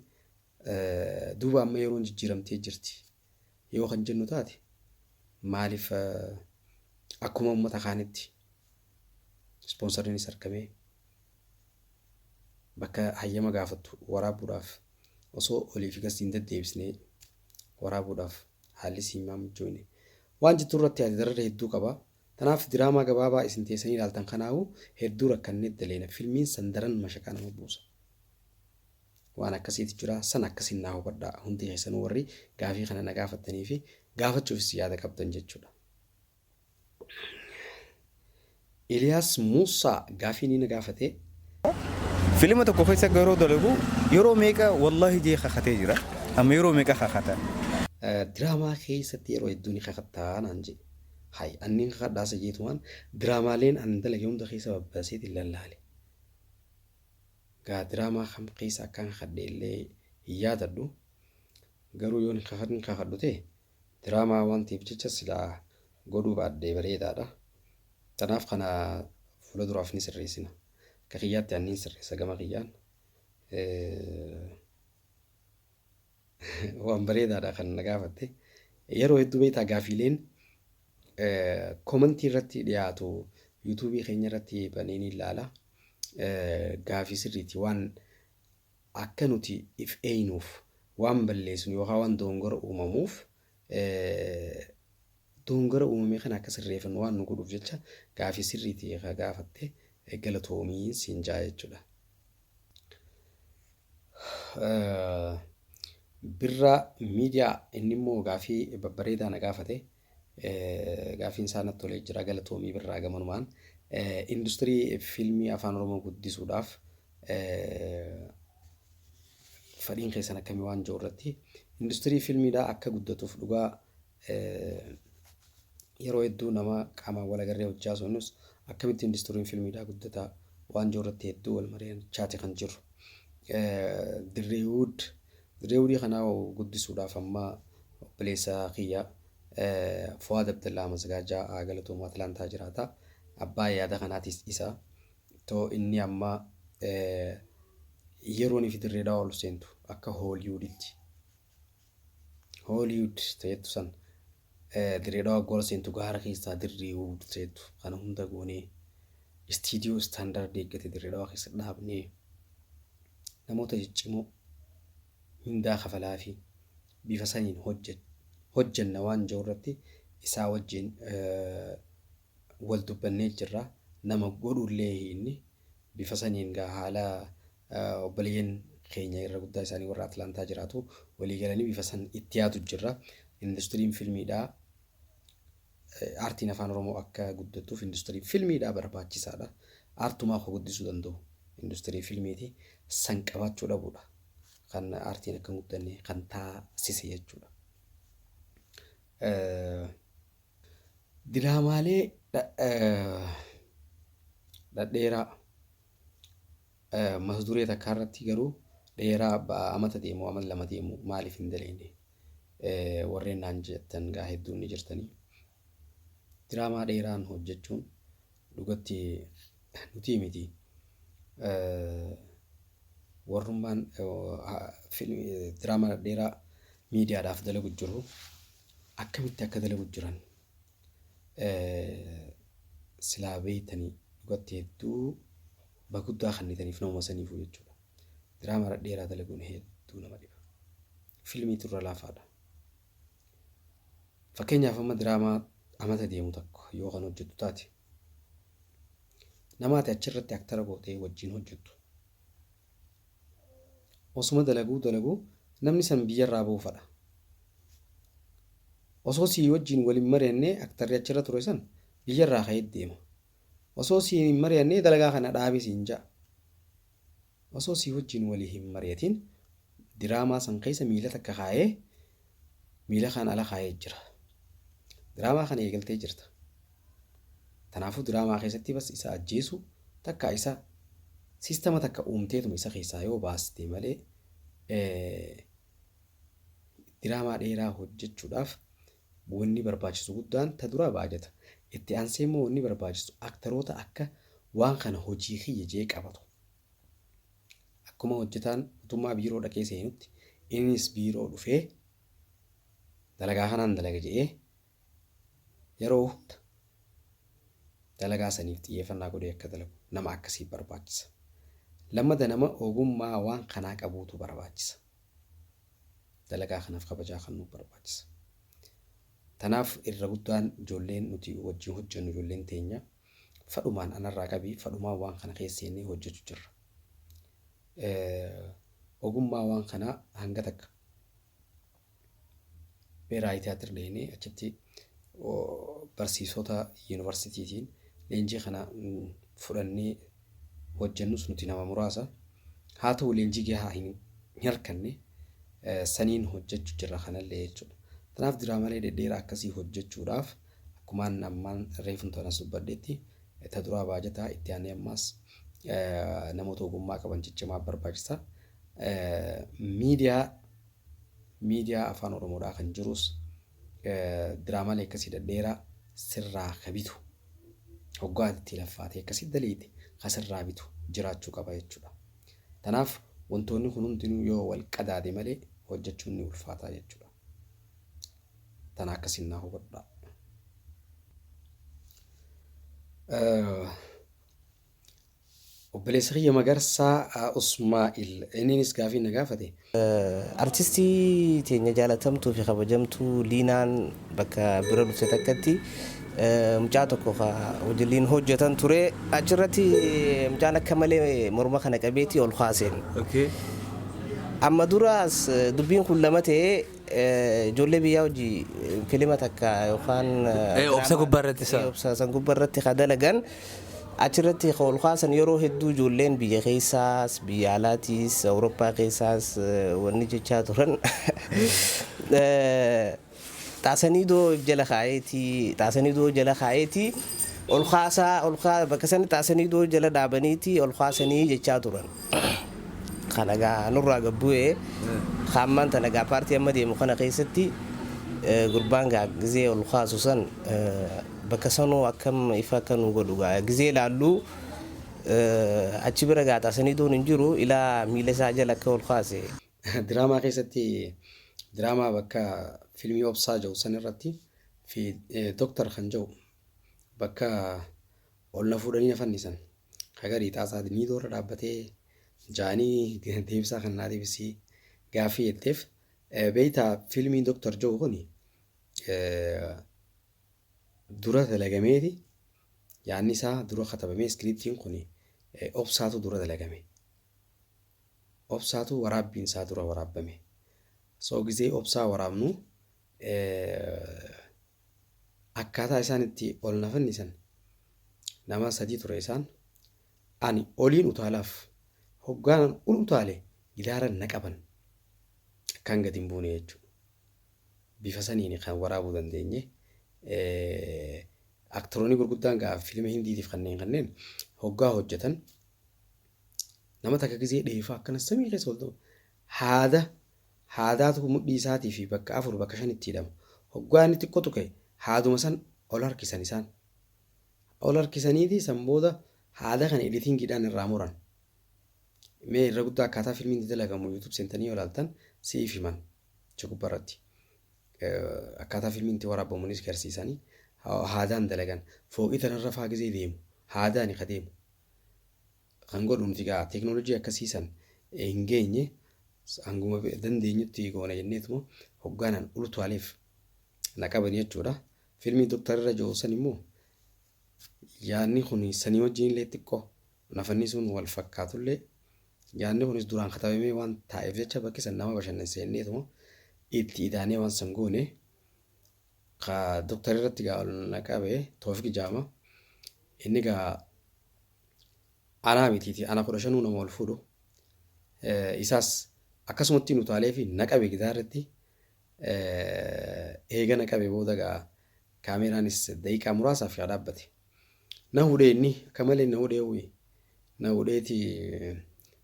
Duuba amma yeroon jijjiiramtee jirti. yoo kan jennu taate maaliif akkuma uummata kaanitti ispoonsarriinis argamee bakka hayyama gaafattu waraabuudhaaf osoo olii fi gasti hin deddeebisnee waraabuudhaaf haalli siimaa mijoone waan jettu irratti yaade dararra hedduu qaba. Kanaaf diraamaa gabaabaa isin teessanii ilaaltan kanaa'u hedduu rakkannee daleena filmiin san daran mashaqaa nama buusa. Waan akkasiitu jira. San akkasiin naa hubadhaa. Hundi keessanuu warri gaafii kana na gaafattanii fi gaafachuufis yaada qabdan jechuudha. Iliyaas Muusaa gaafii ni na gaafate. Filima tokko keessa garoo dalagu yeroo meeqa wallahi jee kakatee jira. Amma yeroo meeqa kakata? Diraamaa keessatti yeroo hedduu ni kakattaa naan jee. Hay anniin kakadhaasa jeetumaan diraamaaleen an dalage hunda keessa babbaseetiin lallaale. Egaa diraamaa kam keessa akkaan kakadhe illee hin yaadadhu. Garuu yoon hin kakadhu ta'e diraamaa waan ta'eef jecha silaa godhuu baadhee bareedaadha. Kanaaf kana fuula duraaf ni sirreessina. Akka kiyyaatti ani niin sirreessa gama kiyyaan. Waan bareedaadha kan na gaafatte. Yeroo hedduu beektaa gaafiileen komantii irratti dhiyaatu yuutuubii keenya irratti banee ni ilaala. Gaafii sirriiti waan akka nuti if eeynuuf waan balleessinu yookaan waan doongora uumamuuf Dogongora uumame kana akka sirreefannu waan nu godhuuf jecha gaafii sirriiti ka gaafatte galatoomi siin jaa jechuudha. Birraa miidiyaa inni immoo gaafii babbareedaa na gaafate gaafiin isaa natti tolee jira galatoomii birraa gamanumaan industirii fiilmii afaan oromoo guddisuudhaaf fadhiin keessan akkamii waan jiru irratti industirii fiilmiidhaa akka guddatuuf dhugaa yeroo hedduu nama qaamaan wal agarree hojjaa sunus akkamitti industiriin fiilmiidhaa guddataa waan jiru irratti hedduu wal mareen chaati kan jiru. Dirreewud dirreewudii kanaa guddisuudhaaf amma obboleessa kiyya Fuwaad Abdallaa Masgaajaa Galatoomaa Atlaantaa jiraata. Abbaa yaada kanaatis isa. too inni amma yeroon fi dirree dhawaa ol seentu akka hooliyuuditti hooliyuud ta'ettu san dirree dhawaa gool seentu gaara keessaa dirree huud ta'ettu kana hunda goonee istiidiyoo istaandaardi eeggate dirree dhawaa keessa dhaabnee namoota ciccimoo mindaa kafalaa fi bifa saniin hojjenna waan jiru irratti isaa wajjin wal dubbannee jirra nama godhullee hiinni bifa saniin gaa haala obboleeyyan keenya irra guddaa isaanii warra Atlaantaa jiraatu walii galanii bifa san itti yaadu jirra. Industiriin filmiidhaa aartiin afaan Oromoo akka guddatuuf industiriin filmiidhaa barbaachisaadha. Aartumaa akka guddisuu danda'u industirii filmiiti san qabaachuu dhabuudha. Kan aartiin akka hin guddanne kan taasise jechuudha. Diraamaalee dhadheeraa mata duree takkaa irratti garuu dheeraa amata deemu amata lama deemu maaliif hin daleeyne warreen naan jettan gaa hedduun ni jirtanii. Diraamaa dheeraan hojjechuun dhugatti nutii miti warrummaan diraama dheeraa miidiyaadhaaf dalagu jiru akkamitti akka dalagu jiran silaa beeytanii dhugatti hedduu baguddaa kannitaniif nama saniifu jechuudha. Diraama dheeraa dalaguun hedduu nama dhiba. Filmii turra laafaadha. Fakkeenyaaf amma diraamaa amata deemu tokko yoo kan hojjettu taate nama ati achirratti aktara gootee wajjin hojjettu osuma dalaguu dalaguu namni san biyyarraa ba'uu fadha. Osoo sii wajjin waliin mari'annee aktarri achirra ture san biyyarraa ka'ee deema. Osoo sii hin mari'annee dalagaa kana dhaabi siin ja'a. Osoo sii wajjin walii hin mari'atiin diraamaa san keessa miila takka kaayee miila kaan ala kaayee jira. Diraamaa kana eegaltee jirta. Tanaafuu diraamaa keessatti bas isa ajjeesu takka isa siistama takka uumteetuma isa keessaa yoo baaste malee diraamaa dheeraa hojjechuudhaaf wanni barbaachisu guddaan ta duraa baajata. Itti aansee immoo wanni barbaachisu aktaroota akka waan kana hojii kiyya jee qabatu. Akkuma hojjetaan mootummaa biiroo dhaqee seenutti innis biiroo dhufee dalagaa kanaan dalaga jedhee yeroo hunda dalagaa saniif xiyyeeffannaa godhee akka dalagu nama akkasii barbaachisa. Lammada nama ogummaa waan kanaa qabuutu barbaachisa. Dalagaa kanaaf kabajaa kan nu barbaachisa. Tanaaf irra guddaan ijoolleen nuti wajjin hojjennu ijoolleen teenya Fadhumaan anarraa qabi fadhumaan waan kana keessa seennee hojjechu jirra. Ogummaa waan kanaa hanga takka beeraayi tiyaatir dheenee achitti barsiisota yuunivarsiitiitiin leenjii kana fudhannee hojjennus nuti nama muraasa. Haa ta'u leenjii gahaa hin harkanne saniin hojjechu jirra kanallee jechuudha. Kanaaf diraamalee dhedheeraa akkasii hojjechuudhaaf Akkumaan ammaan reefun tana subbadhetti ta duraa baajataa itti aanee ammaas namoota ogummaa qaban ciccimaa barbaachisa. Miidiyaa miidiyaa afaan oromoodhaa kan jirus diraamaalee akkasii dhadheeraa sirraa ka bitu hoggaa itti laffaatee akkasii daleeyte ka sirraa bitu jiraachuu qaba jechuudha. Tanaaf wantoonni kun hundinuu yoo wal qadaade malee hojjechuun ni ulfaataa jechuudha. Tana akkasiin naa hubadhaa. Obboleessa kiyya Magarsaa Usmaa'il inniinis gaafii na gaafate. Artistii teenya jaalatamtuu fi kabajamtuu Liinaan bakka bira dhufte takkatti Mucaa tokko ka wajjilliin hojjetan ture. Achirratti mucaan akka malee morma kana qabeeti ol kaaseen. Amma duraas dubbiin kun lama ta'ee ijoollee biyyaa hojii filima takka yookaan obsa gubbaa irratti isaa. obsa san gubbaa irratti ka dalagan achirratti ka ol kaasan yeroo hedduu ijoolleen biyya keessaas biyya alaatiis awurooppaa keessaas wanni jechaa turan. Xaasaniidoo if jala kaa'eeti xaasaniidoo jala kaa'eeti ol kaasaa ol kaa bakka sani xaasaniidoo jala dhaabaniiti ol kaasanii jechaa turan. Kana gaa nurraa gad bu'ee kaa ammaan tana gaa paartii amma deemu kana keessatti gurbaan gaa gizee ol kaasu san bakka sanuu akkam ifa akka nu godhu gaa gizee ilaallu achi bira gaa xaasaniidoon hin jiru ilaa miila isaa jala akka ol kaase. Diraamaa keessatti diraamaa bakka filmii obsaa jedhu san irratti fi doktar kan jedhu bakka ol na fuudhanii na fannisan hagarii xaasaa ni doorra dhaabbatee jaanii deebisaa kan naa deebisii gaaffii jetteef beeytaa filmiin doktar jedhu kuni dura dalagameeti yaanni isaa dura katabamee iskiriiptiin kuni obsaatu dura dalagame. Obsaatu waraabbiin isaa dura waraabbame. So gizee obsaa waraabnu akkaataa isaan itti ol na fannisan nama sadii ture isaan ani oliin utaalaaf hoggaanan ol utaale gidaaran na qaban akkaan gadi hin buune jechuudha. Bifa saniin kan waraabuu dandeenye aktiroonni gurguddaan ga'a fiilma hindiitiif kanneen kanneen hoggaa hojjetan Nama takka gizee dheefaa akkana samii keessa ol ta'u haada haadaatu mudhii isaatii fi bakka afur bakka shanitti hidhama. Hoggaa inni xiqqoo tuqe haaduma san ol harkisan isaan. Ol harkisaniiti san booda haada kana editingiidhaan irraa muran. Mee irra guddaa akkaataa filmiin itti dalagamu YouTube seentanii yoo ilaaltan siif himan achi gubbaa irratti. Eh, Akkaataa filmiin itti waraabamuunis garsiisanii ha- haadaan dalagan fooqii tanarra faa gizee deemu haadaani ka deemu kan godhu nuti gaa teeknooloojii akkasii san hin geenye hanguma dandeenyutti goona jenneetuma hoggaanaan ultuwaaleef na qaban jechuudha. Fiilmii Dooktar irra jiru san immoo yaadni kun sanii wajjin illee xiqqoo nafannisuun wal fakkaatullee yaadni kunis duraan katabamee waan taa'eef jecha bakki san nama bashannansiisneetuma itti idaanee waan san goone Ka Doktar irratti gaa ol na qabe Toofik Jaama. Inni gaa anaa mitiiti ana kudha shanuu nama ol fuudhu. Isaas akkasumatti hin utaalee fi na qabe gidaa irratti. Eega na qabe booda gaa kaameeraanis daqiiqaa muraasaaf yaa dhaabbate. Na hudhee inni akka malee na hudhee uyi. Na hudheeti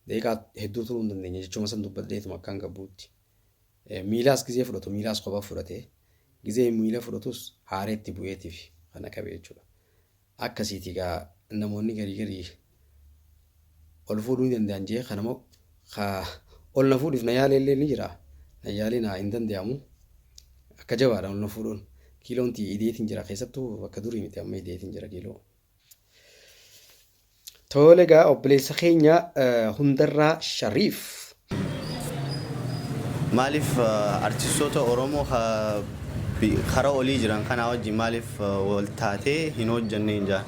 daqiiqaa hedduu turuu hin dandeenye jechuma san dubbadheetuma akkaan gabbuutti. Miilaas gizee fudhatu miilaas kopha fudhate gizee miila fudhatus haaree itti bu'eetiif kana qabe jechuudha. Akkasiiti gaa namoonni garii garii ol fuudhuu ni danda'an jee kana moo ka ol na fuudhiif na yaalee illee ni jira na yaalee na hin danda'amu akka jabaadha ol na fuudhuun kiiloon ti ideetiin jira keessattuu bakka durii miti amma ideetiin jira kiiloo. Toole egaa obboleessa keenya hundarraa Shariif. Maaliif artistoota Oromoo kara olii jiran kanaa wajjin maaliif wal taatee hin hojjanneen jaa?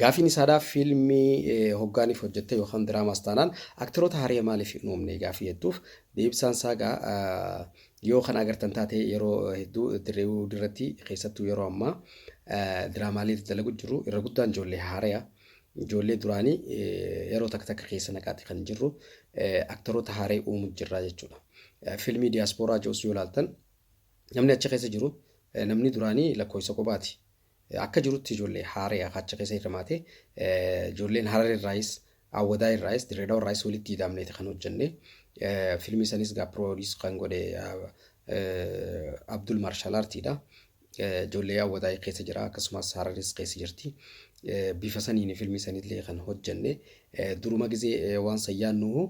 Gaafiin isaadha fiilmii hoggaaniif hojjette yookaan diraamaas taanaan aktiroota haree maaliif hin uumne gaafii jettuuf deebisaan isaa egaa Yoo kana agartan taate yeroo hedduu Dirreewood irratti keessattuu yeroo ammaa diraamaalee itti dalagu jiru. Irra guddaan ijoollee haaraya. Ijoollee duraanii yeroo takka takka keessa naqaati kan jirru aktaroota haaree uumu jirra jechuudha. Fiilmii diyaaspooraa Joos yoo ilaaltan namni achi keessa jiru namni duraanii lakkoofsa kophaati. akka jirutti ijoollee Hararee akka achi keessa hirmaate ijoolleen Hararee irraayis Awwadaa irraayis Dirreedawa irraayis walitti ida'amneeti kan hojjenne filmii sanis gaa piroodiis kan godhe Abdul Maarshaal Artiidha. Ijoollee Awwadaa keessa jira akkasumas Hararees keessa jirti. Bifa saniin filmii sanillee kan hojjenne duruma gizee waan san yaannu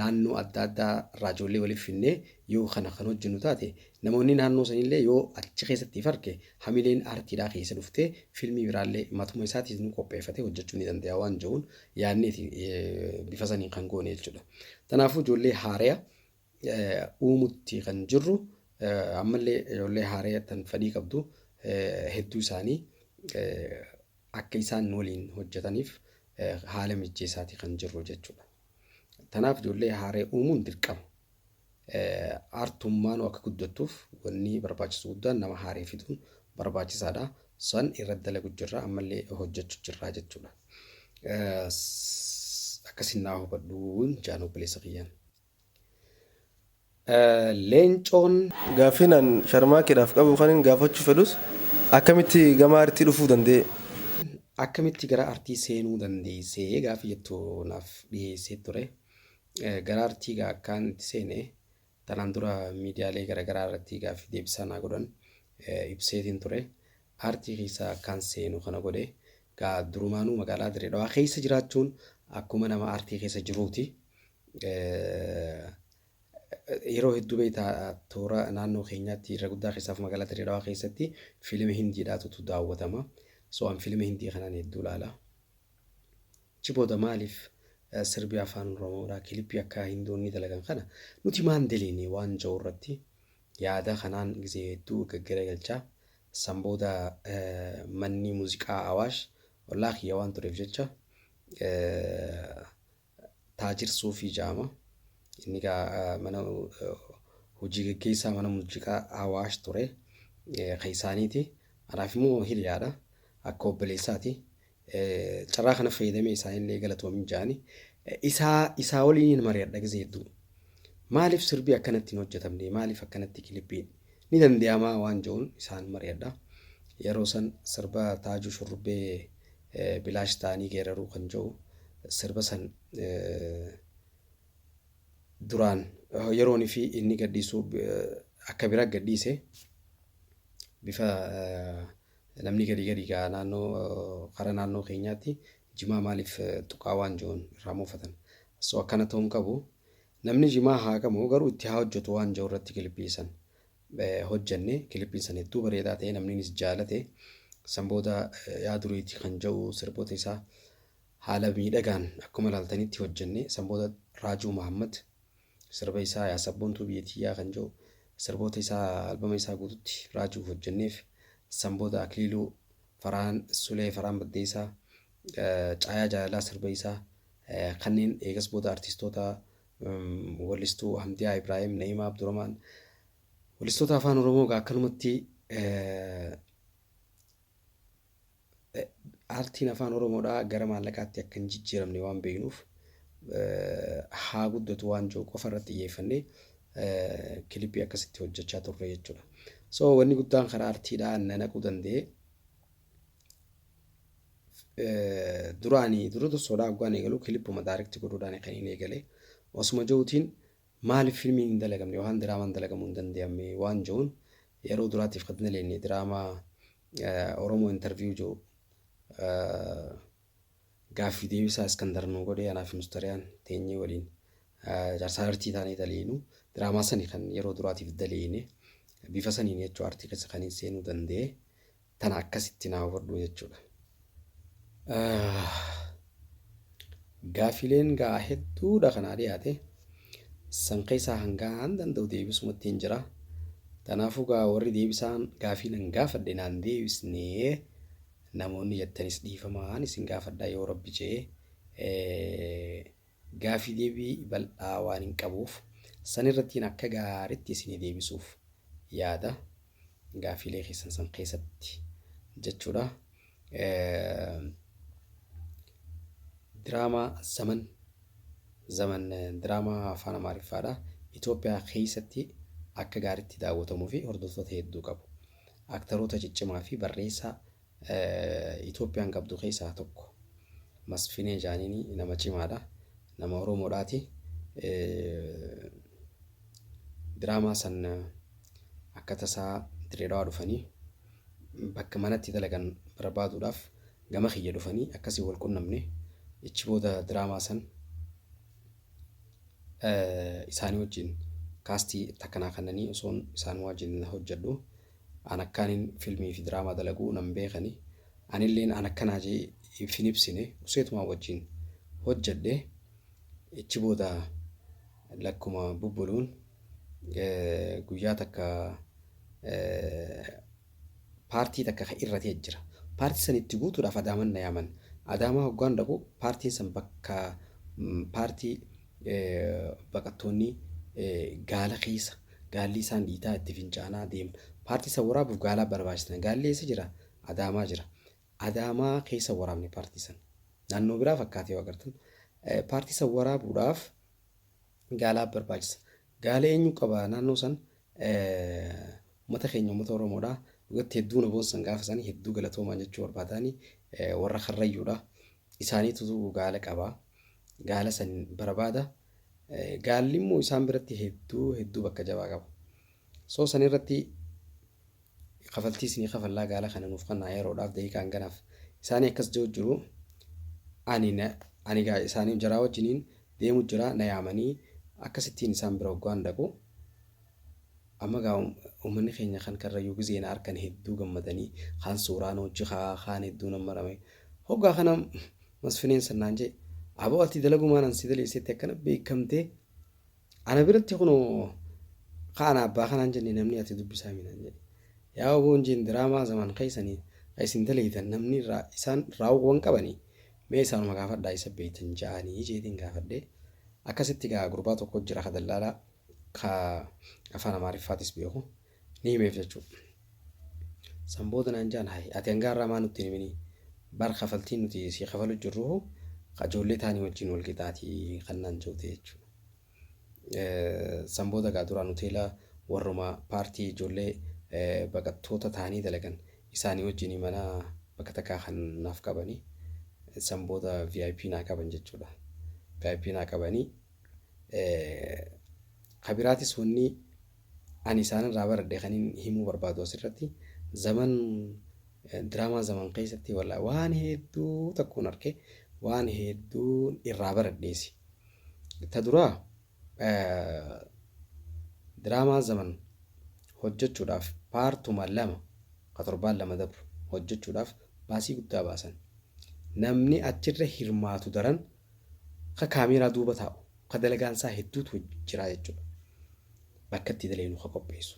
naannoo adda addaa irraa ijoollee waliif finnee yoo kana kan hojjennu taate namoonni naannoo sanillee yoo achi keessatti if arge Hamileen aartiidhaa keessa dhuftee fiilmii biraallee matuma isaatiis nu qopheeffatee hojjechuu ni danda'a waan jedhuun yaadneeti bifa saniin kan goone jechuudha. Kanaafuu ijoollee haaraya uumutti kan jirru ammallee ijoollee haaraya tan fedhii qabdu hedduu isaanii akka isaan nu waliin hojjetaniif haala mijjeessaatii kan jirru jechuudha. Kanaaf ijoollee haaraya uumuun dirqama. Artummaanuu akka guddattuuf wanni barbaachisu guddaan nama haaree fiduun barbaachisaadha. San irratti dalagu jirra ammallee hojjechu jirra jechuudha. Akkasiin naa hubadhuun jaan obboleessa kiyyaan. Leencoon Gaaffiin an sharmaakeedhaaf qabu kanin gaafachuu fedhus akkamitti gama artii dhufuu danda'e? akkamitti gara artii seenuu dandeessee gaaffii jettu naaf dhiyeessee ture. Gara artii egaa akkaan itti seene tanaan dura miidiyaalee garagaraa irratti gaaffii deebisaa naa godhan ibseetiin ture. Aartii keessa akkaan seenu kana godhe gaa durumaanuu magaalaa Dirree Dhawaa keessa jiraachuun akkuma nama aartii keessa jiruuti. Yeroo hedduu beektaa toora naannoo keenyaatti irra guddaa keessaaf magaalaa Dirree Dhawaa keessatti fiilima Hindiidhaatu daawwatama. So an fiilima Hindii kanaan hedduu ilaala. Achi booda maaliif sirbi afaan Oromoodhaa kilipii akka Hindoonni dalagan kana nuti maan deleene waan ja'u irratti yaada kanaan gizee hedduu gaggaragalchaa. San booda manni muuziqaa Awaash ollaa kiyya waan tureef jecha Taajir Suufii jedhama. Inni egaa mana hojii geggeessaa mana muuziqaa Awaash ture. Kan isaaniiti. Anaaf immoo hiriyaadha. Akka obboleessaati. Carraa kana fayyadamee isaanillee galatoomin jedhani. Isaa isaa waliin hin mari'adha gisee hedduu. Maaliif sirbi akkanatti hin hojjetamne? Maaliif akkanatti kilippiin? Ni danda'amaa waan jedhuun isaan mari'adha. Yeroo san sirba Taajuu Shurrubbee Bilaash ta'anii geeraruu kan jedhu sirba san duraan yeroon fi inni gadhiisuu akka bira gadhiise bifa namni gadi gadi ga'a naannoo kara naannoo keenyaatti jimaa maaliif tuqaa waan jiruun irraa muufatan. So akkana ta'uu hin qabu. Namni jimaa haaqamu garuu itti haa hojjetu waan jiru irratti kilippiisan. hojjanne kilippiin san hedduu bareedaa ta'e namniinis jaalate san booda yaa duriiti kan ja'u sirboota isaa haala miidhagaan akkuma ilaaltanitti hojjanne san booda raajuu mahammad sirba isaa yaa sabboontuu biyya tiyyaa kan ja'u sirboota isaa albama isaa guututti raajuuf hojjanneef san booda akliiluu faraan sulee faraan baddeessaa caayaa jaalalaa sirba isaa kanneen eegas booda artistoota Wallistuu Hamdiyaa Ibraahim, Na'imaa Abduramaan. Wallistoota afaan Oromoo egaa akkanumatti eh, eh, aartiin afaan Oromoodhaa gara maallaqaatti akka hin jijjiiramne waan beeknuuf eh, haa guddatu waan jiru qofa irratti xiyyeeffannee eh, kilipii akkasitti hojjechaa turre jechuudha. So wanni guddaan karaa aartiidhaa na naquu danda'e duraani dura dursoodhaa hoggaan eegalu kilippuma daarekti godhuudhaan kan hin eegale osuma ja'uutiin maaliif filmiin hin dalagamne yookaan diraamaan dalagamuu hin danda'amne waan ja'uun yeroo duraatiif kan daleenne diraamaa Oromoo intarviyuu ja'u gaaffii deebisaa Iskandar nuu godhee anaa fi mustariyaan teenyee waliin jaarsaa artii taanee daleenu diraamaa sani kan yeroo duraatiif daleene bifa saniin jechuu artii keessa kan hin seenuu danda'e. tana akkasitti naa hubadhu jechuudha. Gaafileen gaa hedduudha kanaa dhiyaate san keessaa hangaan danda'u deebisumatti hin jira. Kanaafuu gaa warri deebisaan gaafii nan gaafadhe naan deebisnee namoonni jettanis dhiifamaan isin gaafadha yoo rabbi jee Gaafii deebii bal'aa waanin qabuuf san irrattiin akka gaaritti isinii deebisuuf yaada. Gaafiilee keessan san keessatti jechuudha. Diraamaa Zaman Zaman diraamaa afaan Amaariffaadha. Itoophiyaa keessatti akka gaaritti daawwatamuu fi hordoftoota hedduu qabu. Aktaroota ciccimaa fi barreessaa Itoophiyaan qabdu keessaa tokko. Masfinee Jaaniin nama cimaadha. Nama Oromoodhaati. Diraamaa san akka tasaa Dirreedawaa dhufanii bakka manatti dalagan barbaaduudhaaf gama kiyya dhufanii akkasii wal qunnamne. Ichi booda diraamaa san isaanii wajjin kaastii takkanaa kannanii osoon isaan wajjin hojjedhu. An akkaanin filmii fi diraamaa dalagu nan beekani. Anilleen an akkanaa jee if hin ibsine useetumaan wajjin hojjedhe. Ichi booda lakkuma bubbuluun guyyaa takka paartii takka ka irra ta'e jira. Paartii san itti guutuudhaaf adaaman na yaaman. Adaamaa hoggaan dhaqu paartiin san bakka paartii baqattoonni gaala keessa gaalli isaan dhiitaa itti fincaanaa deema. Paartii isa waraabuuf gaalaa barbaachisna. Gaalli eessa jira? Adaamaa jira. Adaamaa keessa waraabne paartii sana. Naannoo biraa fakkaatee yoo agartan. Paartii isa waraabuudhaaf gaalaa barbaachisa. Gaalee eenyuu qaba naannoo san ummata keenya ummata oromoodha dhugatti hedduu na boonsan gaafa sanii hedduu galatoomaa jechuu barbaadaani warra karrayyuudha isaaniitu gaala qaba gaala san barbaada gaalli immoo isaan biratti hedduu hedduu bakka jabaa qaba soo san irratti kafaltii isinii kafallaa gaala kana nuuf kannaa yeroodhaaf daqiiqaa hanganaaf isaanii akkas jiru jiru ani na ani gaa isaanii jaraa wajjiniin deemu jira na yaamanii akkasittiin isaan bira hoggaan dhaqu amma gaa um- uummanni keenya kan karrayyuu gizee na arkan hedduu gammadanii kaan suuraan hojji kaa kaan hedduu nan marame hoggaa kana masfineen sannaan jee aboo ati dalagumaan an si daleessetti akkana beekamtee Ana biratti kunoo ka ana abbaa kanaan jenne namni ati dubbisaami naan jedhe. Yaa oboon jeen diraamaa zamaan keessani ka isin daleydan namni irraa isaan raawwa wan qabani mee isaanuma gaafadhaa isa beeytan ja'aani jeetiin gaafadhe. Akkasitti egaa gurbaa tokko jira ka dallaalaa ka afaan amaariffaatis beeku. ni himeef jechuu san booda naan jaan hayi ati hangaa irraa maa nutti hin himini bar kafaltiin nuti si kafalu jirruhu qajoollee taanii wajjin wal qixaati kan naan jootee jechuu san booda gaa duraan hoteela warruma paartii ijoollee baqattoota taanii dalagan isaanii wajjin mana bakka takkaa kan naaf qabanii san booda VIP naa qaban jechuudha VIP naa qabanii kabiraatis wanni Ani isaan irraa baradhe kanin himuu barbaadu as irratti zaman diraamaa zaman keessatti wallaahi waan hedduu takkuun arke waan hedduun irraa baradheesi. Ta duraa diraamaa zaman hojjechuudhaaf paartuma lama ka torbaan lama dabru hojjechuudhaaf baasii guddaa baasan. Namni achirra hirmaatu daran ka kaameeraa duuba taa'u, ka dalagaan isaa hedduutu jira jechuudha. Bakka itti dalagnu ka qopheessu.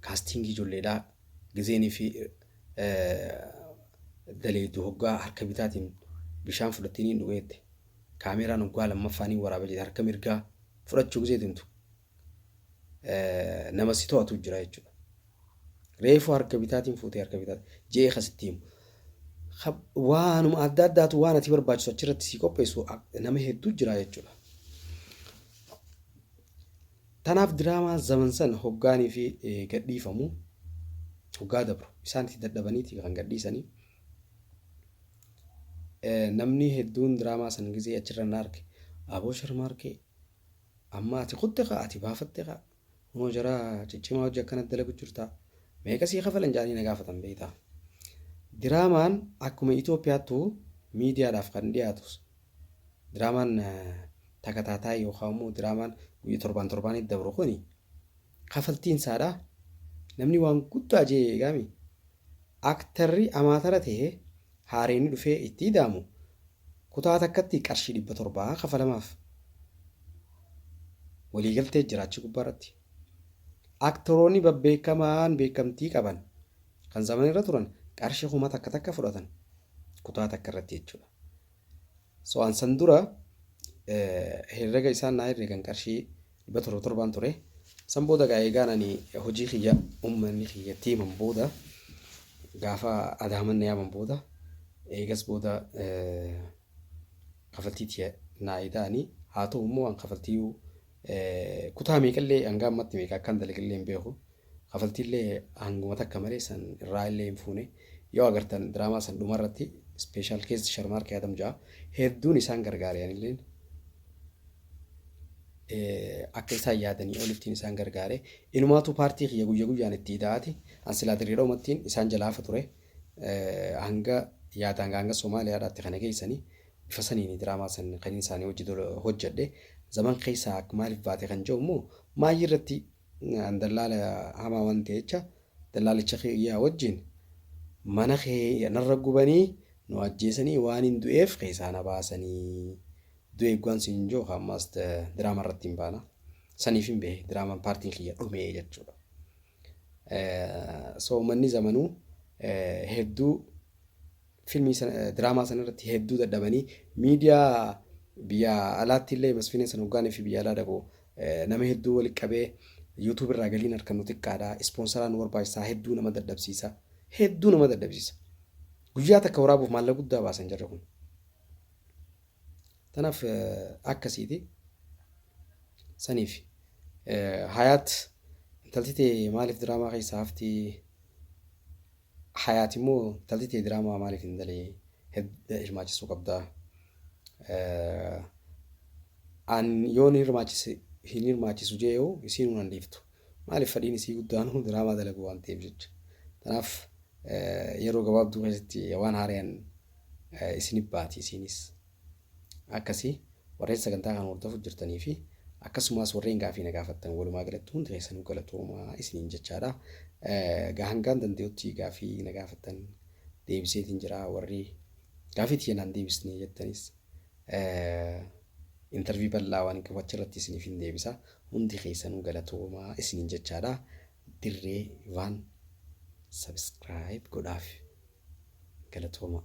Kaastingii ijoolleedhaa gizeenii fi daleeddu hoggaa harka bitaatiin bishaan fudhattee niin dhugeette. Kaameeraan hoggaa lammaffaa niin waraaba jedhe harka mirgaa fudhachuu gizee deemtu nama si to'atu jira jechuudha. Reefu harka bitaatiin fuutee harka bitaatiin je'ee kan sitti himu. Waanuma adda addaatu waan ati barbaachisu achirratti si qopheessu nama hedduu jira jechuudha. Tanaaf diraamaa zaman san hoggaanii fi gadhiifamu hoggaa dabru isaan itti dadhabaniiti kan gadhiisanii. Namni hedduun diraamaa san gisee achirra na arge aboo sharmaarkee Amma ati kutte kaa ati baafatte kaa kunoo jara ciccimaa hojii akkana dalagu jirtaa meeqa sii kafalan jaanii na gaafatan beeyta diraamaan akkuma Itoophiyaattu miidiyaadhaaf kan dhiyaatu diraamaan takataataa yookaan immoo diraamaan guyya torbaan torbaanii dabru kuni kafaltiin isaadha namni waan guddaa jee eegaami Aktarri amaatara ta'e haareeni dhufee itti ida'amu kutaa takkatti qarshii 700 kafalamaaf. Waliigaltee jira achi gubbaarratti. Aktaroonni babbeekamaan beekamtii qaban kan zamanirra turan qarshii kuma takka takka fudhatan kutaa takkarratti jechuudha. So an san dura herrega isaan naa herregan qarshii 707 ture. San booda egaa eegaan ani hojii kiyya uummanni kiyyatti himan booda gaafa adaaman na yaaman booda eegas booda kafaltii tiya naa ida'anii haa ta'u immoo an kafaltii Kutaa meeqallee hanga ammatti meeqa akkan dalagillee hin beeku. Kafaltiillee hanguma takka malee san irraa illee hin fuune. Yoo agartan diraamaa san dhuma irratti special case sharmaar keeyaadam ja'a. Hedduun isaan gargaare anilleen. Akka isaan yaadanii olittiin isaan gargaare. Inumaatu paartii kiyya guyya guyyaan itti ida'aati. An silaa dirreedha umattiin isaan jalaafa ture. Hanga yaadaan hanga Somaaliyaadhaatti kana geessanii Bifa saniini diraamaa san kanin isaanii wajji dura hojjadhe. Zaman keessaa akk maalif baate kan je'u immoo maayyii irratti an dallaala hamaa waan ta'e jecha dallaalicha kiyyaa wajjiin mana kee narra gubanii nu ajjeesanii waanin du'eef keessaa na baasanii du'e eegwaan siin je'u ka ammaas diraama irratti hin baana. Saniifin bahe diraamaan paartiin kiyya dhumee jechuudha. So ummanni zamanuu hedduu Filmii sana diraamaa sana irratti hedduu dadhabanii miidiyaa biyya alaatti illee masfiineen sana hoggaanii fi biyya alaa dhaqu nama hedduu walitti qabee yuutuub irraa galiin harkan nu xiqqaadha ispoonsaraa nu barbaachisaa hedduu nama dadhabsiisa hedduu nama dadhabsiisa guyyaa takka waraabuuf maallaqa guddaa baasan jarri kun tanaaf akkasiiti saniif hayaat intalti tee maaliif diraamaa keessaa haftii Hayaati immoo intalti tee diraamaa maaliif hin dalee hedda hirmaachisuu qabda. An yoon hirmaachise hin hirmaachisu jee yoo isiin hunan dhiiftu. Maaliif fadhiin isii guddaan diraamaa dalagu waan ta'eef jecha. Kanaaf yeroo gabaabduu keessatti waan haarayaan isinif baati isiinis. Akkasi warreen sagantaa kana hordofu jirtanii fi akkasumaas warreen gaafii na gaafattan walumaa galatti hundi keessanuu galatoomaa isiniin jechaadha. Egaa hangaan danda'utti gaafii na gaafattan deebiseetiin jira warri gaafii tiyya naan deebisne jettanis intervii bal'aa waan hin qabu achirratti isiniif hin deebisa hundi keessanuu galatoomaa isiniin jechaadha. Dirree Ivaan subscribe godhaaf galatoomaa.